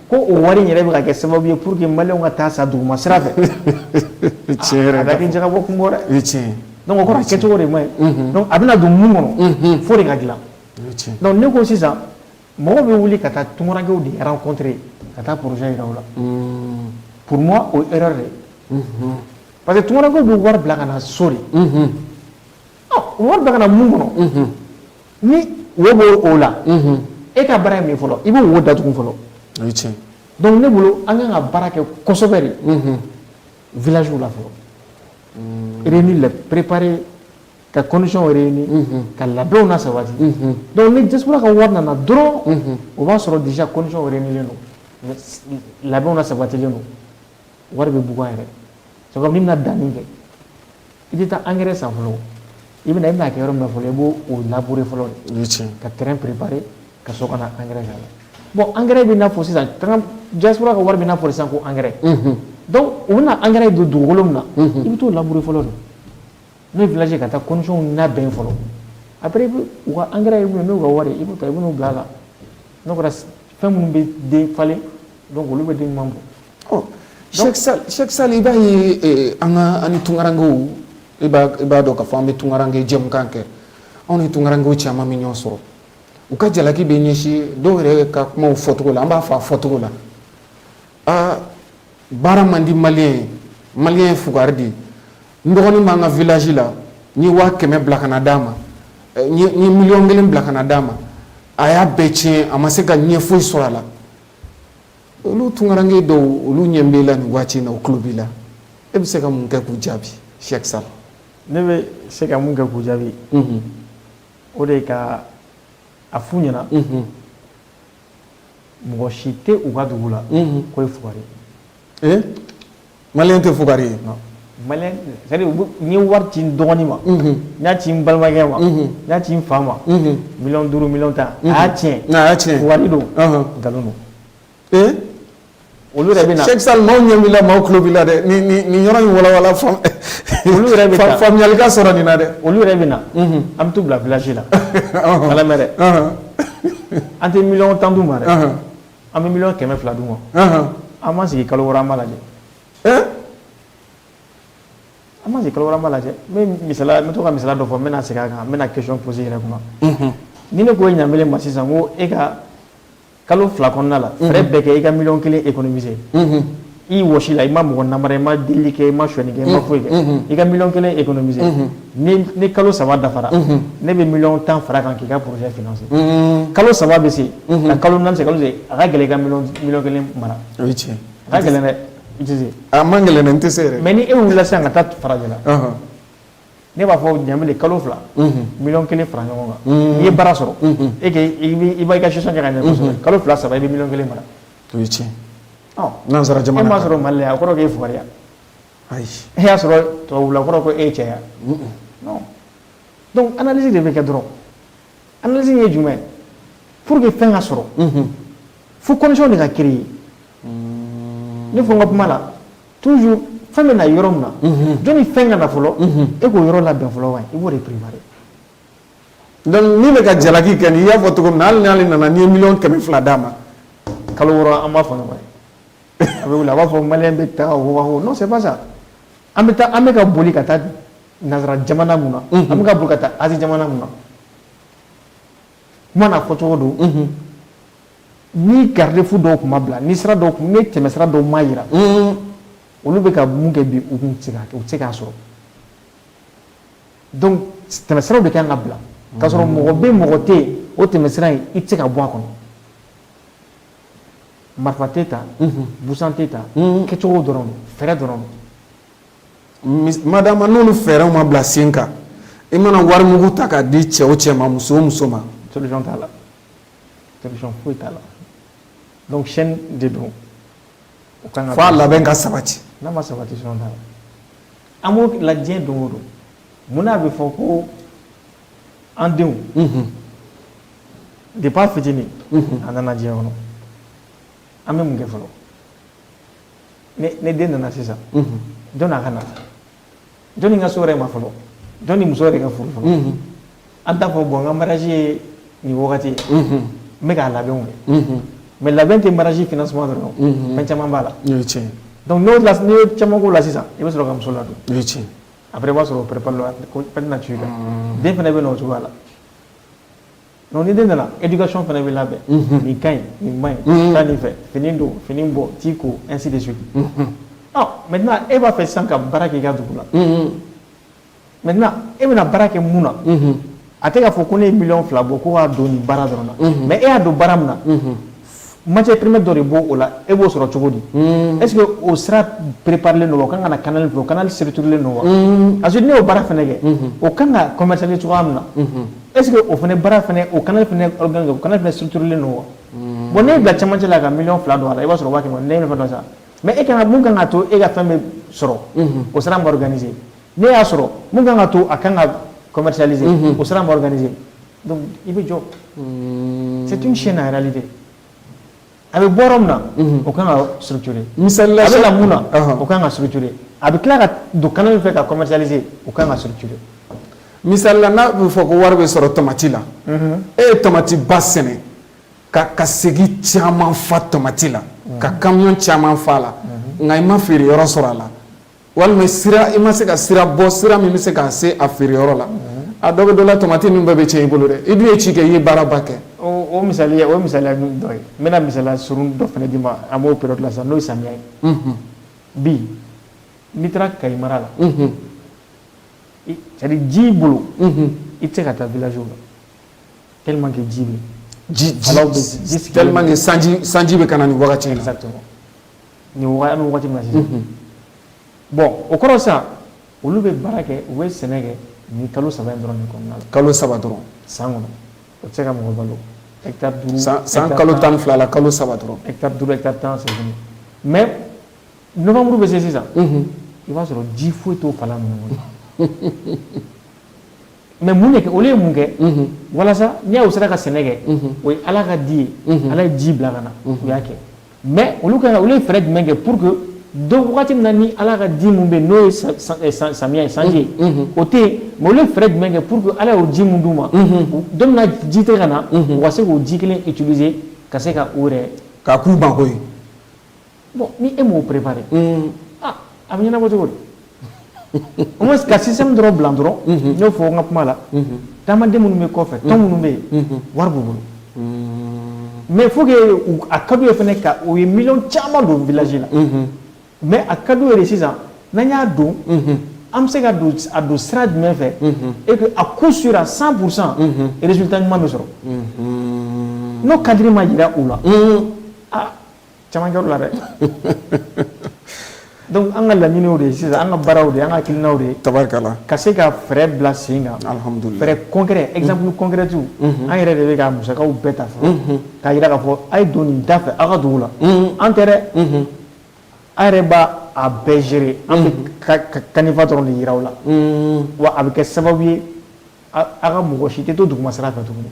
[SPEAKER 2] Ko o wari yɛrɛ bɛ ka kɛ sababu ye pour que maliyɛnw ka taa sa duguma sira fɛ a ka kɛ jagabɔ kun bɔ dɛ donc o kɔrɔ a kɛcogo de man ɲi donc a bɛna don min kɔnɔ f'o de ka dilan donc ne ko sisan mɔgɔ bɛ wuli ka taa tunkarankew de rencontrer ka taa projet jira u la pour moi o erreur de parce que tunkarankew bɛ wari bila ka na so de wari bila ka na mun kɔnɔ Ni wo bɛ o la e ka baara min fɔlɔ i bɛ wo dat fɔlɔ dɔnku ne bolo an ka ka baara kɛ kɔsɔsɛbɛ de vw la fɔlɔ e ni la perepre ka kɔnsɔn yɛrɛ ye ka ladon na saba dɔnku ni tɛso ka wari nana dɔrɔn o b'a sɔrɔ disi kɔnsɔn yɛrɛ don ladon na sabatilen don wari bɛ bugun yɛrɛ c'est comme n'i bɛna danni kɛ i tɛ taa angɛrɛ san fɔlɔ i bɛna i bɛna kɛ yɔrɔ min na fɔlɔ i b'o labure fɔlɔ de ka terrain préparer ka sɔrɔ ka na angɛrɛ k'a la bon angɛrɛ bɛ n'a fɔ sisan diaspora ka wari bɛ n'a fɔ sisan ko angɛrɛ donc u bɛna angɛrɛ don dugukolo min na i bɛ t'o labure fɔlɔ de N'o ye village ka taa conditionw labɛn fɔlɔ après u ka angɛrɛ n'u ka wari i b'o ta i bɛ n'o bila a la n'o kɛra fɛn minnu bɛ den falen donc olu bɛ den ɲuman bɔ
[SPEAKER 1] Cheikh Sall i b'a ye an ka an tunkarankew i b'a dɔn k'a fɔ an bɛ tunkaranke jɛmukan kɛ anw ni tunkaranke caman bɛ ɲɔgɔn sɔrɔ u ka jalaki bɛ ɲɛsin dɔw yɛrɛ ka kuma fɔcogo la an b'a fɔ a fɔcogo la aa baara man di maliyɛn ye maliyɛn ye fugari de ye n dɔgɔnin b'an ka village la n ye waa kɛmɛ bila ka na d'a ma eh, n ye miliyɔn kelen bila ka na d'a ma a y'a bɛɛ tiɲɛ a ma se ka ɲɛ foyi sɔrɔ a la olu tunkaranke dɔw olu ɲɛ b'e la nin waati in na u tulo b'i la e bɛ se ka mun kɛ k'u jaabi Cheikh Sall ne bɛ
[SPEAKER 2] se ka mun kɛ k'u jaabi mhm. o de ye ka a f'u ɲɛna mhm. mɔgɔ si tɛ u ka dugu la mhm. k'o ye fugari ye ee maliyɛn
[SPEAKER 1] tɛ fugari
[SPEAKER 2] ye n ye wari ci n dɔgɔnin ma n y'a ci n balimakɛ ma n y'a ci n fa ma miliyɔn duuru miliyɔn tan a y'a tiɲɛ a y'a tiɲɛ fugari don nkalon don ee olu yɛrɛ bɛ na Cheikh Sall maaw ɲɛ b'i la
[SPEAKER 1] maaw tulo b'i la dɛ nin yɔrɔ in walawala olu
[SPEAKER 2] yɛrɛ bɛ faamuyali ka sɔrɔ nin na dɛ
[SPEAKER 1] olu yɛrɛ bɛ na
[SPEAKER 2] an bɛ t'u bila village la ala dɛ an tɛ miliyɔn tan d'u ma dɛ an bɛ miliyɔn kɛmɛ fila d'u ma an ma sigi kalo wɔɔrɔ an b'a lajɛ an ma sigi kalo wɔɔrɔ an b'a lajɛ n bɛ to ka misaliya dɔ fɔ n bɛna segin a kan n bɛna question poser yɛrɛ kuma ni ne ko ɲamele ma sisan ko e ka kalo fila kɔnɔna la fɛɛrɛ bɛɛ kɛ i ka miliyɔn kelen économiser i wɔsi la i ma mɔgɔ namara i ma delili kɛ i ma sonyani kɛ i ma foyi kɛ i ka miliyɔn kelen économiser ni kalo saba dafara ne bɛ miliyɔn tan fara kan k'i ka projet financer kalo saba bɛ se ka kalo naani se kalo se a ka gɛlɛn i ka miliyɔn kelen mara o ye tiɲɛ a
[SPEAKER 1] ka gɛlɛn
[SPEAKER 2] dɛ i tɛ se a man gɛlɛn dɛ n
[SPEAKER 1] tɛ se yɛrɛ mais ni e wulila sisan ka
[SPEAKER 2] taa farajɛla ne b'a fɔ ɲamele kalo fila miliyɔn kelen fara ɲɔgɔn kan n'i ye baara sɔrɔ e i b'a i ka gestion kɛ ka ɲɛ kosɛbɛ kalo fila saba i bɛ miliyɔn kelen mara o ye tiɲɛ
[SPEAKER 1] Nansara jamana e m'a sɔrɔ Mali la a kɔrɔ k'e
[SPEAKER 2] fugariya
[SPEAKER 1] ayi e y'a
[SPEAKER 2] sɔrɔ tubabula a kɔrɔ ko e cɛya non donc analyse de bɛ kɛ dɔrɔn analyse ye jumɛn pour que fɛn ka sɔrɔ fo condition de ka créer ne fɔ n ka kuma la toujours fɛn bɛ na yɔrɔ min na jɔnni fɛn ka na fɔlɔ e k'o yɔrɔ labɛn fɔlɔ wa i b'o de préparer
[SPEAKER 1] donc min bɛ ka jalaki kɛ n'i y'a fɔ cogo min na hali n'ale nana n'i ye miliyɔn kɛmɛ fila d'a ma kalo
[SPEAKER 2] wɔɔrɔ an b'a fɔ ɲɔgɔn ye a bɛ wuli a b'a fɔ maliyɛn bɛ taa wawawo non c'est pas ça an bɛ taa an bɛ ka boli ka taa nansara jamana mun na an bɛ ka boli ka taa Asie jamana mun na kuma na fɔ cogo don ni garde-fou dɔw tun ma bila ni sira dɔw tun ni tɛmɛsira dɔw ma jira olu bɛ ka mun kɛ bi u tun tɛ se k'a sɔrɔ donc tɛmɛsiraw de kan ka bila k'a sɔrɔ mɔgɔ bɛ mɔgɔ tɛ yen o tɛmɛsira in i tɛ se ka bɔ a kɔnɔ marifa tɛ ta busan tɛ ta kɛcogo dɔrɔn fɛɛrɛ dɔrɔn madama n'olu
[SPEAKER 1] fɛɛrɛw ma bila sen kan i mana wari mugu ta k'a di cɛ o cɛ ma muso o muso ma solution t'a la
[SPEAKER 2] solution foyi t'a la donc chaîne de don fo a labɛn ka sabati
[SPEAKER 1] n'a ma sabati solution
[SPEAKER 2] t'a la An b'o la diɲɛ don o don mun n'a bɛ fɔ ko an denw depuis a fitinin a nana diɲɛ kɔnɔ an bɛ mun kɛ fɔlɔ ne den nana sisan jɔnni a ka na jɔnni ka s'o yɛrɛ ma fɔlɔ jɔnni muso yɛrɛ ka furu fɔlɔ An t'a fɔ bon n ka mariage ye nin wagati ye n bɛ k'a labɛnw kɛ mais labɛn tɛ mariage financement dɔrɔn fɛn caman b'a la n'i ye caman k'o la sisan i bɛ sɔrɔ ka muso ladon après i b'a sɔrɔ o préparer na ci la den fana bɛ na o cogoya la ni den nana éducation fana bɛ labɛn nin ka ɲi nin man ɲi taa nin fɛ fini don fini bɔ t'i ko ainsi de suite maintenant e b'a fɛ sisan ka baara k'i ka dugu la maintenant e bɛna baara kɛ mun na a tɛ k'a fɔ ko ne ye miliyɔn fila bɔ ko k'a don nin baara dɔrɔn na mais e y'a don baara min na matière première dɔ de b'o o la e b'o sɔrɔ cogo di est-ce que o sira préparélen don o ka kan ka na canal fɛ o canal structurélen don wa parce que ne y'o baara fana kɛ o ka kan ka commercialiser cogoya min na est-ce que o fana baara o canal o canal fana structurélen don wa bon ne bila cɛmancɛ la ka miliyɔn fila don a la i b'a sɔrɔ waati ne sa Mais e kan ka mun kan ka to e ka fɛn bɛ sɔrɔ o sira ma organiser ne y'a sɔrɔ mun kan ka to a kan ka commercialiser o sira ma organiser i bɛ jɔ c'est une chaîne en réalité a bɛ bɔ yɔrɔ min na o kan ka structurer misali la
[SPEAKER 1] mun
[SPEAKER 2] na o kan ka structurer a bɛ tila ka don canal min fɛ ka commercialiser o kan ka structurer misali
[SPEAKER 1] la n'a bɛ fɔ ko wari bɛ sɔrɔ tamati la e ye tamati ba sɛnɛ Ka ka segi caman fa tamati la ka camion caman fa a la nka i ma feere yɔrɔ sɔrɔ a la walima i ma se ka sira bɔ sira min bɛ se k'a se a feere yɔrɔ la a dɔ bɛ dɔ la tamati nin bɛɛ bɛ tiɲɛ i bolo dɛ i dun ye ci kɛ i ye baaraba kɛ
[SPEAKER 2] o misali dɔ ye n bɛna misali surun dɔ fana d'i ma an b'o période la sisan n'o ye samiya ye bi n'i taara Kayi mara la c'est-à-dire ji bolo i tɛ se ka taa village la tellement que ji bɛ ji ji alaw bɛ ji
[SPEAKER 1] sigilen tellement que sanji sanji bɛ ka na nin wagati in na exactement
[SPEAKER 2] nin wagati an bɛ wagati min na sisan bon o kɔrɔ sisan olu bɛ baara kɛ u bɛ sɛnɛ kɛ nin kalo saba in dɔrɔn de kɔnɔna la kalo saba dɔrɔn
[SPEAKER 1] san kɔnɔ
[SPEAKER 2] o tɛ se ka mɔgɔ balo hectare duuru san san hectare kalo tan ni fila
[SPEAKER 1] la kalo saba dɔrɔn hectare duuru hectare tan
[SPEAKER 2] sɔrɔ kɔnɔ mais novembre bɛ se sisan i b'a sɔrɔ ji foyi t'o fala ninnu kɔnɔ mais mun de kɛ olu ye mun kɛ walasa n'i y'a ye u sera ka sɛnɛ kɛ o ye ala ka di ye ala ye ji bila ka na u y'a kɛ mais olu ka olu ye fɛɛrɛ jumɛn kɛ pour que donc wagati min na ni ala ka di min bɛ n'o ye samiya ye sanji ye o tɛ yen mais olu fɛɛrɛ jumɛn kɛ pour que ala y'o ji min d'u ma don min na ji tɛ ka na u ka se k'o ji kelen utiliser ka se ka u yɛrɛ ka k'u mako ɲɛ
[SPEAKER 1] bon
[SPEAKER 2] ni e m'o préparer unhun, aa a bɛ ɲɛnabɔ cogo di au moins ka système dɔrɔn bila dɔrɔn n y'o fɔ n ka kuma la taamaden minnu bɛ kɔfɛ tɔn minnu bɛ yen wari b'u bolo mais il faut que u a ka d'u ye fana ka u ye miliyɔn caman don village la mais a ka d'u ye de sisan n'an y'a don an bɛ se ka don a don sira jumɛn fɛ et que à coup sûr à 100 pour cent résultat ɲuman bɛ sɔrɔ n'o cadre ma jira u la aa caman kɛr'o la dɛ donc an ka laɲiniw de ye sisan an ka baaraw de an ka hakilinaw de ye tabarikala ka se ka
[SPEAKER 1] fɛɛrɛ
[SPEAKER 2] bila sen kan alhamdulillah fɛɛrɛ
[SPEAKER 1] concret exemple
[SPEAKER 2] concret an yɛrɛ de bɛ k'a musakaw bɛɛ ta fɔlɔ k'a jira k'a fɔ a ye don nin da fɛ aw ka dugu la an tɛ dɛ a yɛrɛ b'a bɛɛ gérer an bɛ canevas dɔrɔn de jira aw la wa a bɛ kɛ sababu ye aw ka mɔgɔ si tɛ to duguma sira fɛ tuguni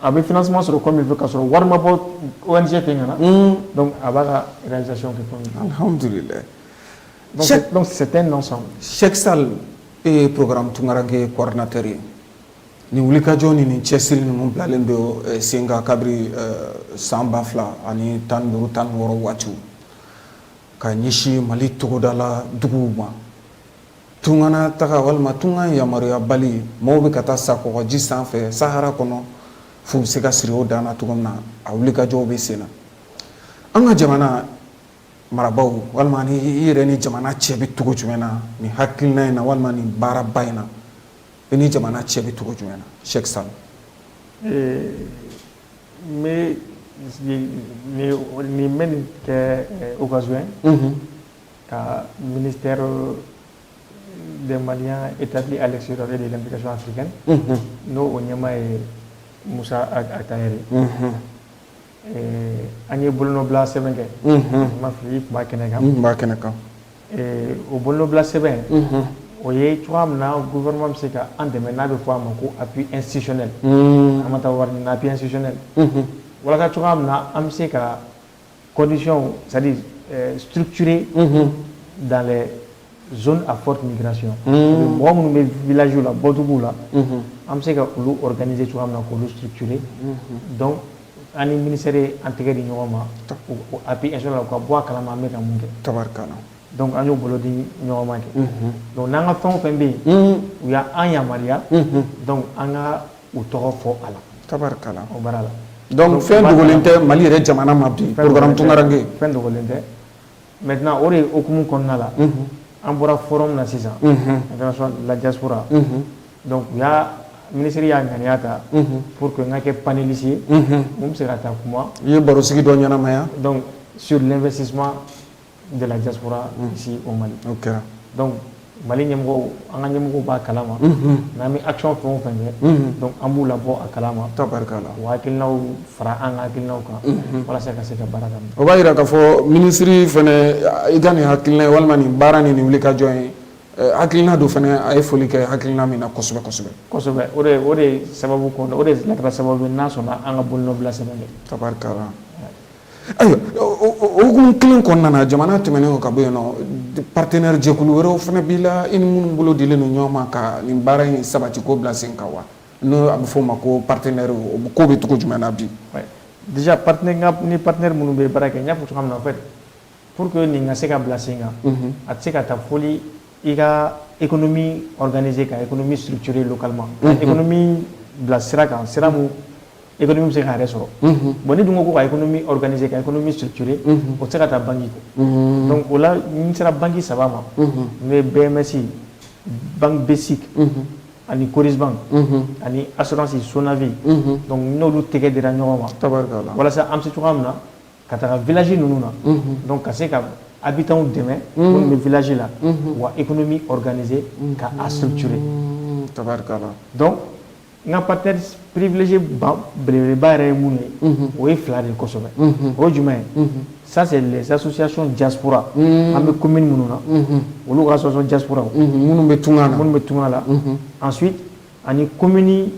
[SPEAKER 2] A bɛ finɛ suma sɔrɔ kɔmi fɛ ka sɔrɔ walima bɔ oɔrɔn tɛ ɲɛna a b'a ka sɛ sɔn sɛsa
[SPEAKER 1] e ye pkran tunkarake kɔrɔɔrnatɛ ye nin wuli kajɔ ni ni cɛsiri ninnu bilalen don sen kan kabiri san ba fila ani tan duuru tan wɔɔrɔ waati ka ɲɛsin mali tɔgɔdala dugu ma Tungana taga walima tunga yamaruyabali maaw bɛ ka taa sa kɔɔgɔji sanfɛ Sahara kɔnɔ f'u bɛ se ka siri o dan na cogo min na a wulikajɔw bɛ sen na an ka jamana marabaaw walima ni i yɛrɛ ni jamana cɛ bɛ cogo jumɛn na nin hakilina in na walima nin baaraba in na i ni jamana cɛ bɛ cogo jumɛn na Cheikh Sall n bɛ
[SPEAKER 2] nin bɛ nin kɛ occasion ye ka ministère des Maliens établis à l'extérieur et de l'implication africaine mhm. n'o o ɲɛmaa ye Musa Ag Attaher mhm. an ye bolonɔbila sɛbɛn kɛ mhm. ma fili tun b'a kɛnɛ kan tun b'a kɛnɛ
[SPEAKER 1] kan
[SPEAKER 2] o bolonɔbila sɛbɛn o ye cogoya min na gouvernement bɛ se ka an dɛmɛ n'a bɛ fɔ a ma ko appui institutionnel an ma taa wari ɲini appui institutionnel walasa cogoya min na an bɛ se ka kɔndisɔnɔn suure dan z a fɔ tun gsi mɔgɔ minnu bɛ vlaj la bɔt la an bɛ se ka olu kɛ cogoya min na k olu suure dɔn an ni minisɛre an tɛgɛ di ɲɔgɔn ma a bɛ la u ka bɔ a kala an bɛ ka mun kɛ tari dɔnku
[SPEAKER 1] an y'o bolo
[SPEAKER 2] di ɲɔgɔnma kɛ don n'an ka fɛn fɛn bɛ yen u y'an yama dɔnku an ka u tɔgɔ fɔ a la tabarikala o baara la donc fɛn
[SPEAKER 1] dogolen tɛ Mali yɛrɛ jamana ma bi programme Tunkaranke fɛn dogolen tɛ
[SPEAKER 2] maintenant o de hukumu kɔnɔna la an bɔra forum na sisan international la diaspora donc u y'a minisiri y'a ŋaniya ta pour que n ka kɛ panéliste ye min bɛ se ka taa kuma i ye barosigi dɔ
[SPEAKER 1] ɲɛnamaya
[SPEAKER 2] donc sur l'investissement de la diaspora ici au Mali o kɛra donc Mali ɲɛmɔgɔw an ka ɲɛmɔgɔw b'a kalama n'an bɛ action fɛn o fɛn kɛ donc an b'u labɔ a kalama tabarikala u hakilinaw fara an ka hakilinaw kan walasa ka se ka baara daminɛ o b'a jira k'a fɔ
[SPEAKER 1] minisiri fana i ka nin hakilina ye walima nin baara nin nin wulikajɔ ye hakilina dɔ fana a ye foli kɛ hakilina min na kosɛbɛ kosɛbɛ kosɛbɛ o de o de
[SPEAKER 2] sababu kɔnɔ o de la kɛra sababu n'a sɔnna an ka bolonɔbila sɛbɛn tabarikala
[SPEAKER 1] Ayiwa o hukumu kelen kɔnɔna na jamana tɛmɛnen ka bɔ yen nɔ partenaire jɛkulu wɛrɛw fana b'i la i ni minnu bolo dilen don ɲɔgɔn ma ka nin baara in sabati k'o bila sen kan wa n'o a bɛ f'o ma ko partenaire ko bɛ cogo jumɛn na bi
[SPEAKER 2] déjà ni partenaire minnu bɛ baara kɛ n y'a fɔ cogoya min na en fait Pour que nin ka se ka bila sen kan a tɛ se ka taa foli i ka économie organiser ka économie structurer localement ka économie bila sira kan sira min économie bɛ se k'a yɛrɛ sɔrɔ bon n'i dun ko ka économie organiser ka économie structurer o tɛ se ka taa banque kɔ donc o la n sera banque saba ma n'o ye BMS banque BSIC ani Coris Bank ani assurance SONAVIE donc n'olu tɛgɛ dira ɲɔgɔn ma walasa an bɛ se cogoya min na ka taga village ninnu na donc ka se ka habitants dɛmɛ minnu bɛ village la u ka économie organiser ka a structurer donc n ka partenaires privilégiés belebeleba yɛrɛ ye minnu ye o ye fila de ye kosɛbɛ o ye jumɛn ye ça c'est les associations diaspora an bɛ commune minnu na olu ka association diaspora
[SPEAKER 1] minnu bɛ tunga la ensuite
[SPEAKER 2] ani commune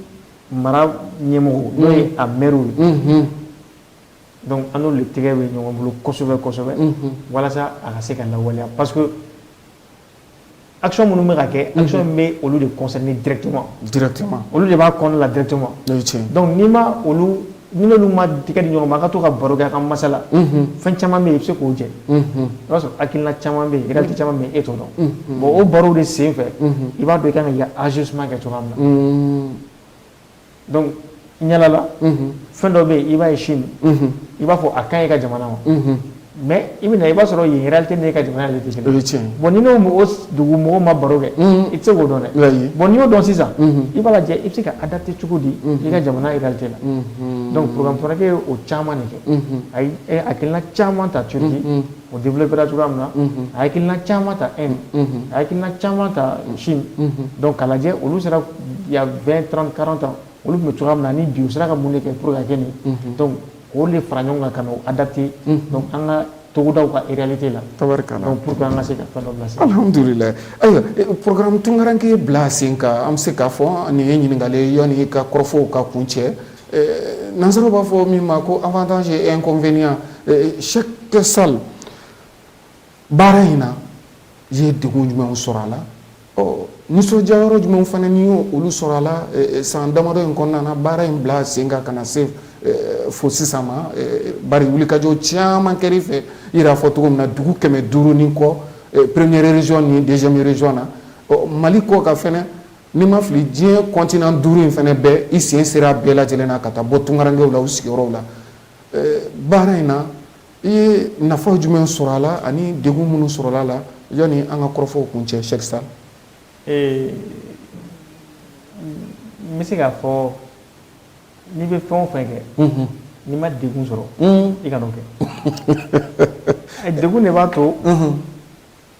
[SPEAKER 2] mara ɲɛmɔgɔw n'o ye a maires ye Donc an n'olu de tɛgɛ bɛ ɲɔgɔn bolo kosɛbɛ kosɛbɛ walasa a ka se ka lawaleya parce que action minnu bɛ ka kɛ a bɛ olu de concerner directement olu de b'a kɔnɔna la directement donc ni ma olu ni olu ma tɛgɛ di ɲɔgɔn ma a ka to ka baro kɛ ka masala fɛn caman bɛ yen i bɛ se k'o jɛ i b'a sɔrɔ hakilina caman bɛ yen réalité caman bɛ yen e t'o dɔn bon o baro de sen fɛ i b'a dɔn i ka kan ka ajustement kɛ cogoya min na donc ɲalala fɛn dɔ bɛ yen i b'a ye Chine i b'a fɔ a ka ɲi i ka jamana ma mais i bɛ na i b'a sɔrɔ yen réalité n'e ka jamana de tɛ kelen bon n'i n'o dugu mɔgɔw ma baro kɛ i tɛ se k'o dɔn dɛ bon n'i y'o dɔn sisan i b'a lajɛ i bɛ se ka adapter cogo di i ka jamana réalité la donc programme tunkaranke ye o caman de kɛ a ye hakilina caman ta Turquie O denbele bara cogoya min na a hakilila caman ta e a hakiina caman ta si dɔn kalajɛ olu sera bɛn tanrankararan ta olu tun bɛ cogoya min na ni bi sera ka mun de kɛ pur kɛ nin o de fara ɲɔgɔn kan ka a date an ka togodaw ka erite la tari ka pur an ka se ka la
[SPEAKER 1] ayiwa pkkarankɛ bila sen ka an bɛ se k'a fɔ nin ye ɲininkaka ye yanni ka kɔrɔfɔfɔw ka kun cɛ Nansaraw b'a fɔ min ma ko avantage et inconvénient c'est ça baara in na i ye degun jumɛnw sɔrɔ a la nisɔndiya yɔrɔ jumɛnw fana n'i y'olu sɔrɔ a la san damadɔ in kɔnɔna na baara in bila sen kan ka na se fo sisan ma bari wulikajɔ caman kɛra i fɛ i y'a fɔ cogo min na dugu kɛmɛ duuru ni kɔ première région ni deuxième région na Mali kɔkan Ni n ma fili diɲɛ continent duuru in fɛnɛ bɛɛ i sen sera bɛɛ lajɛlen na ka taa bɔ tunkarankew la u sigiyɔrɔw la baara in na i ye nafa jumɛn sɔrɔ a la ani degun minnu sɔrɔ a la yanni an ka kɔrɔfɔw kuncɛ Cheikh Sall
[SPEAKER 2] n bɛ se k'a fɔ n'i bɛ fɛn o fɛn kɛ n'i ma degun sɔrɔ i kan'o kɛ degun de b'a to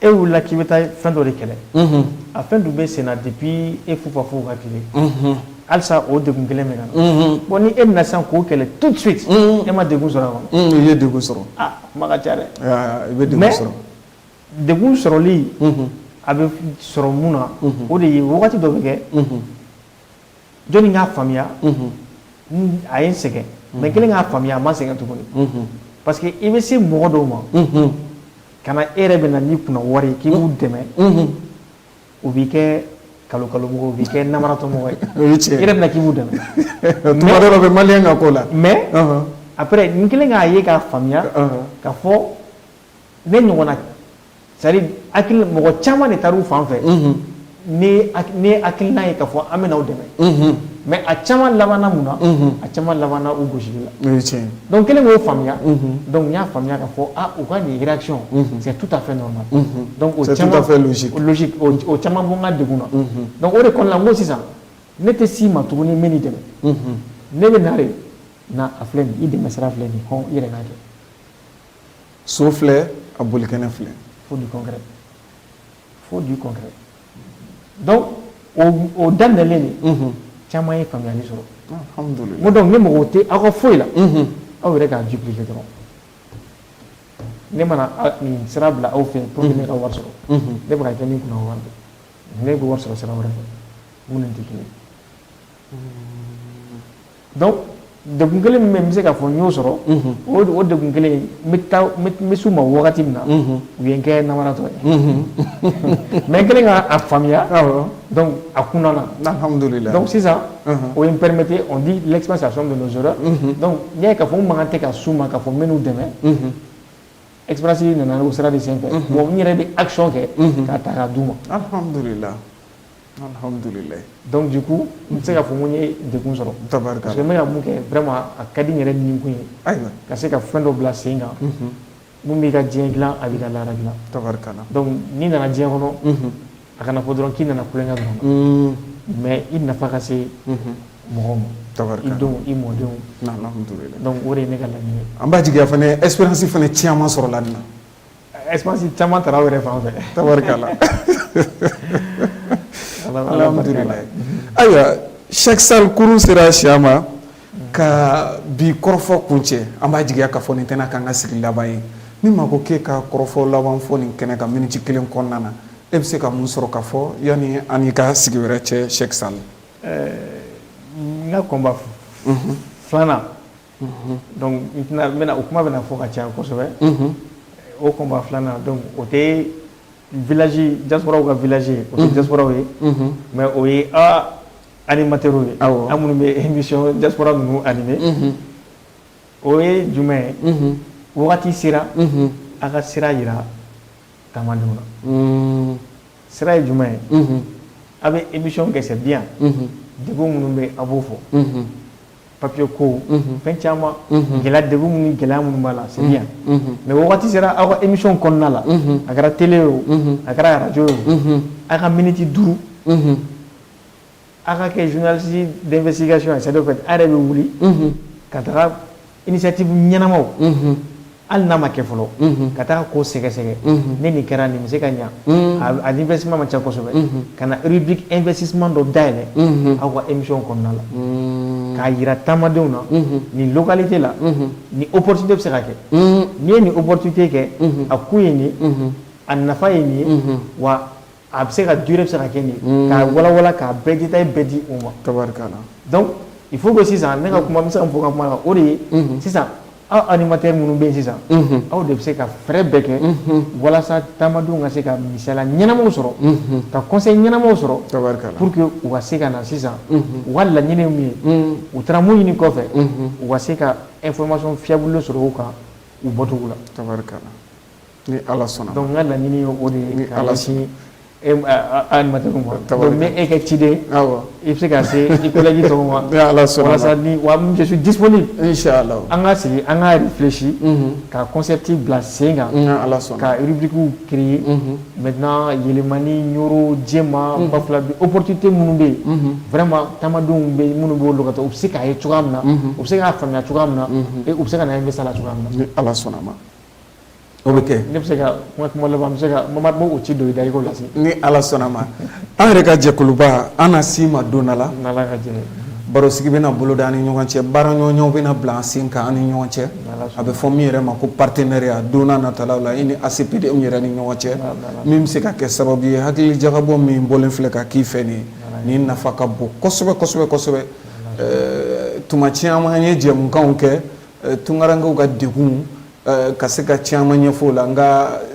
[SPEAKER 2] e wulila k'i bɛ taa fɛn dɔ de kɛlɛ a fɛn dun bɛ senna depuis e fufafuw ka tile halisa o degun kelen bɛ ka na bon ni e bɛ na sisan k'o kɛlɛ tout de suite e ma degun sɔrɔ a kɔnɔ i ye degun sɔrɔ
[SPEAKER 1] a kuma ka ca
[SPEAKER 2] dɛ i bɛ degun
[SPEAKER 1] sɔrɔ mais degun
[SPEAKER 2] sɔrɔli a bɛ sɔrɔ mun na o de ye wagati dɔ bɛ kɛ Jɔnni k'a faamuya a ye n sɛgɛn mais kɛlen k'a faamuya a ma sɛgɛn tuguni parce que i bɛ se mɔgɔ dɔw ma ka na e yɛrɛ bɛ na n'i kunna wari ye k'i b'u dɛmɛ u b'i kɛ kalon kalonmɔgɔ u b'i kɛ namaratɔmɔgɔ ye i yɛrɛ bɛ na k'i b'u dɛmɛ tuma dɔ la o bɛ
[SPEAKER 1] maliyɛn ka ko la
[SPEAKER 2] mais après n kɛlen k'a ye k'a faamuya k'a fɔ ne ɲɔgɔnna c'est à dire mɔgɔ caman de taar'u fan fɛ ni nin hakilina ye k'a fɔ an bɛ n'aw dɛmɛ mais a caman labanna mun na a caman labanna u gosili la o ye tiɲɛ ye donc kɛlen k'o faamuya donc n y'a faamuya k'a fɔ ah u ka nin réaction c'est tout à fait normal donc o caman c'est tout à fait
[SPEAKER 1] logique logique o
[SPEAKER 2] caman bɔ n ka degun na donc o de kɔnɔna la n ko sisan ne tɛ s'i ma tuguni n bɛ n'i dɛmɛ ne bɛ na de na a filɛ nin i dɛmɛ sira filɛ nin ye hɔn i yɛrɛ k'a kɛ
[SPEAKER 1] so filɛ a bolikɛnɛ filɛ faut du
[SPEAKER 2] concret faut du concret donc o daminɛlen de caman ye faamuyali sɔrɔ
[SPEAKER 1] ko donc ne mako
[SPEAKER 2] tɛ aw ka foyi la aw yɛrɛ k'a dupliquer dɔrɔn ne mana nin sira bila aw fɛ pour que ne ka wari sɔrɔ ne bɛ ka kɛ min kunna wari ne bɛ wari sɔrɔ sira wɛrɛ fɛ minnu tɛ kelen Donc degun kelen min bɛ yen n bɛ se k'a fɔ n y'o sɔrɔ, unhun, o degun kelen in n bɛ taa n bɛ s'u ma wagati min na, unhun, u ye n kɛ namaratɔ ye, unhun, mais n kɛlen k'a faamuya, awɔ, donc a kunna na, alihamudulila, donc
[SPEAKER 1] sisan,
[SPEAKER 2] unhun, o ye n permettre on dit l'expérience est la somme de nos erreurs unhun, donc n'i y'a ye k'a fɔ n mankan tɛ ka s'u ma k'a fɔ n bɛ n'u dɛmɛ, unhun, expérience nana o sira de senfɛ, unhun, bon n yɛrɛ bɛ action kɛ, unhun, k'a ta k'a d'u ma, alihamudulila
[SPEAKER 1] Donc
[SPEAKER 2] du coup n bɛ se k'a fɔ n ye degun sɔrɔ tabaraka parce
[SPEAKER 1] que
[SPEAKER 2] n bɛ ka min kɛ a ka di n yɛrɛ nikun ye ayiwa ka se ka fɛn
[SPEAKER 1] dɔ bila
[SPEAKER 2] sen kan min b'i ka diɲɛ dilan a b'i ka lahara dilan
[SPEAKER 1] tabaraka n'i nana
[SPEAKER 2] diɲɛ kɔnɔ a kana fɔ dɔrɔn k'i nana tulon kɛ dɔrɔn mais i nafa ka se mɔgɔw ma tabaraka i denw i mɔdenw
[SPEAKER 1] o de ye ne ka
[SPEAKER 2] laɲini ye an b'a jigi
[SPEAKER 1] expérience fana caman sɔrɔla expérience
[SPEAKER 2] caman taara aw yɛrɛ fan fɛ tabarikala
[SPEAKER 1] alhamdulilayi ayiwa Cheick Sall kurun sera siya ma ka bi kɔrɔfɔ kuncɛ an b'a jigiya k'a fɔ nin tɛna k'an ka sigi laban ye ni maa ko k'e ka kɔrɔfɔ laban fɔ nin kɛnɛ kan miniti kelen kɔnɔna na e bɛ se ka mun sɔrɔ ka fɔ yanni an n'i ka sigi wɛrɛ cɛ Cheick Sall
[SPEAKER 2] n ka combat filanan bɛna o kuma bɛna fɔ ka ca kosɛbɛ o kunba filanan o tɛ jaw ka vla ye o tɛ jaw ye mɛ o ye ali matɛ ye aw an minnu bɛ emi jakurara ninnu anime o ye jumɛn ye wagati sera a ka sira jira ta na sira ye jumɛn ye aw bɛ emi kɛsɛ bi yan dugu minnu bɛ a b'o fɔ papier ko fɛn caman gɛlɛya degun minnu gɛlɛya minnu b'a la c'est bien mais waati sera aw ka émission kɔnɔna la a kɛra télé ye o a kɛra radio ye o aw ka miniti duuru aw ka kɛ journaliste d'investigation c'est-à-dire aw yɛrɛ bɛ wuli ka taga initiative ɲɛnamaw hali n'a ma kɛ fɔlɔ ka taa ko sɛgɛsɛgɛ ne nin kɛra nin bɛ se ka ɲɛ a investissement man ca kosɛbɛ ka na rubrique investissement dɔ dayɛlɛ aw ka émission kɔnɔna la k'a jira taamadenw na nin localité la nin opportunité bɛ se ka kɛ n'i ye nin opportunité kɛ a kun ye nin a nafa ye nin ye wa A bɛ se ka durée bɛ se ka kɛ nin ye k'a walawala k'a bɛɛ détail bɛɛ di u ma tabarikala
[SPEAKER 1] donc il
[SPEAKER 2] faut que sisan ne ka kuma n bɛ se ka fɔ ka kuma na o de ye sisan aw animateur minnu bɛ sisan aw de bɛ se ka fɛɛrɛ bɛɛ kɛ walasa taamadenw ka se ka misali ɲɛnamaw sɔrɔ ka conseil ɲɛnamaw sɔrɔ tabarikala pour que u ka se ka na sisan u ka laɲini min ye u taara mun ɲini kɔfɛ u ka se ka information fiable sɔrɔ u kan u bɔcogo la tabarikala
[SPEAKER 1] Ni ala sɔnna dɔn ka laɲini ye o
[SPEAKER 2] de ye ni ala sini ma bɛ e kɛ ciden i bɛ se ka se
[SPEAKER 1] i bɛji
[SPEAKER 2] sɔrɔ wa dis an ka
[SPEAKER 1] sigi an ka
[SPEAKER 2] yɛrɛsi ka kɔnsɛti bila sen kan ala sɔn kabugu
[SPEAKER 1] ki
[SPEAKER 2] mɛ yɛlɛmani yɔrɔ jɛma ba fila o porote tɛ minnu bɛ yen fɛma tamadenw bɛ minnu bɛ olu ka taa u bɛ se k'a ye cogoya min na u bɛ se k'a faamuya cogoya min na u bɛ se ka na ye misala cogoya ala sɔnna a ma
[SPEAKER 1] O bɛ kɛ ne bɛ se ka kuma
[SPEAKER 2] kuma laban bɛ se ka mamari b' o ci don i da i k'o lase ni ala sɔnna
[SPEAKER 1] ma an yɛrɛ ka jɛkuluba an na se i ma don dɔ la
[SPEAKER 2] barosigi bɛna na
[SPEAKER 1] boloda an ni ɲɔgɔn cɛ baara ɲɔgɔnɲɔgɔn bɛna na bila an sen kan an ni ɲɔgɔn cɛ a bɛ fɔ min yɛrɛ ma ko partenariat don nataw la i ni ACPD yɛrɛ ni ɲɔgɔn cɛ min bɛ se ka kɛ sababu ye hakili jagabɔ min bɔlen filɛ ka k'i fɛ nin ye ni nafa ka bon kosɛbɛ kosɛbɛ kosɛbɛ tuma caman an ye jɛmukan kɛ tunkarankew ka degun ka se ka caman ɲɛfɔ o la nka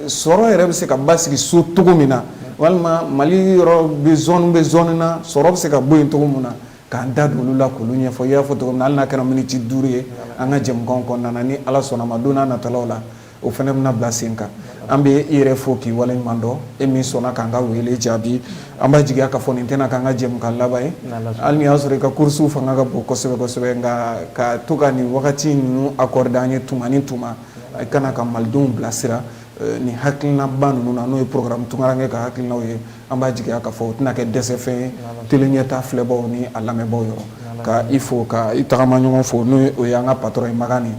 [SPEAKER 1] sɔrɔ yɛrɛ bɛ se ka basigi so cogo min na walima mali yɔrɔ bɛɛ zone bɛɛ zone na sɔrɔ bɛ se ka bɔ yen cogo min na k'an da don olu la k'olu ɲɛfɔ i y'a fɔ cogo min na hali n'a kɛra miniti duuru ye an ka jɛmukanw kɔnɔna na ni Ala sɔnn'a ma don n'a nataw la o fana bɛna bila sen kan an bɛ i yɛrɛ fo k'i waleɲuman dɔn e min sɔnna k'an ka wele jaabi an b'a jigiya k'a fɔ nin tɛna k'an ka jɛmukan laban ye hali n'i y'a sɔrɔ i ka kurusiw fanga ka bon kosɛbɛ kosɛbɛ nka ka to ka nin wagati ninnu accordé an ye tuma ni tuma i ka na ka malidenw bilasira nin hakilinaba ninnu na n'o ye programme tunkaranke ka hakilinaw ye an b'a jigiya k'a fɔ o tɛna kɛ dɛsɛfɛn ye tele Ɲɛtaa filɛbaw ni a lamɛnbaw yɔrɔ ka i fo ka i tagama ɲɔgɔn fo n'o ye an ka patron ye Magani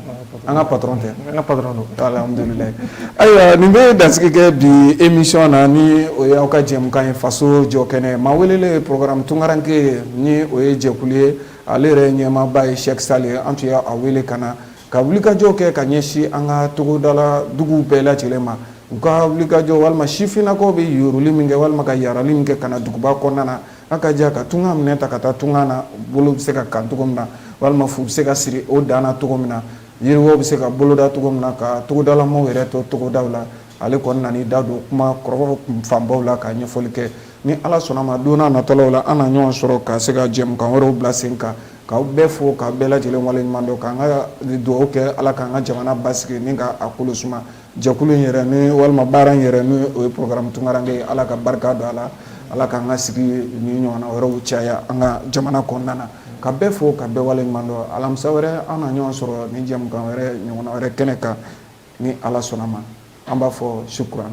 [SPEAKER 1] an ka patron tɛ alhamdulilayi ayiwa nin bɛ dansigi kɛ bi émission na ni o ye aw ka jɛmukan ye faso jɔ kɛnɛ maa welelen ye programme tunkaranke ye ni o ye jɛkulu ye ale yɛrɛ ɲɛmaaba ye Cheick Sall ye an tun y' a wele ka na ka wulikajɔ kɛ ka ɲɛsin an ka togodala duguw bɛɛ lajɛlen ma u ka wulikajɔ walima sifinnakaw bɛ yoroli min kɛ walima ka yarali min kɛ ka na duguba kɔnɔna na a ka jɛ ka tunga minɛn ta ka taa tunga na bolo bɛ se ka kan cogo min na walima fu bɛ se ka siri o dan na cogo min na yiriwa bɛ se ka boloda cogo min na ka togodalamaw yɛrɛ to togodaw la ale kɔni nan'i da don kuma kɔrɔ fanbaw la ka ɲɛfɔli kɛ ni ala sɔnna ma don n'a nataw la an na ɲɔgɔn sɔrɔ ka se ka jɛmukan wɛrɛw bila sen kan ka bɛɛ fo ka bɛɛ lajɛlen waleɲuman dɔn k'an ka dugawu kɛ ala k'an ka jamana basigi ni ka a kolo suma Jɛkulu in yɛrɛ ni walima baara in yɛrɛ ni o ye programme tunkaranke ye ala ka barika don a la ala k'an ka sigi nin ɲɔgɔnna wɛrɛw caya an ka jamana kɔnɔna na ka bɛɛ fo ka bɛɛ waleɲuman dɔn alamisa wɛrɛ an na ɲɔgɔn sɔrɔ ni jɛmukan wɛrɛ ɲɔgɔnna wɛrɛ kɛnɛ kan ni ala sɔnna ma an b'a fɔ shukran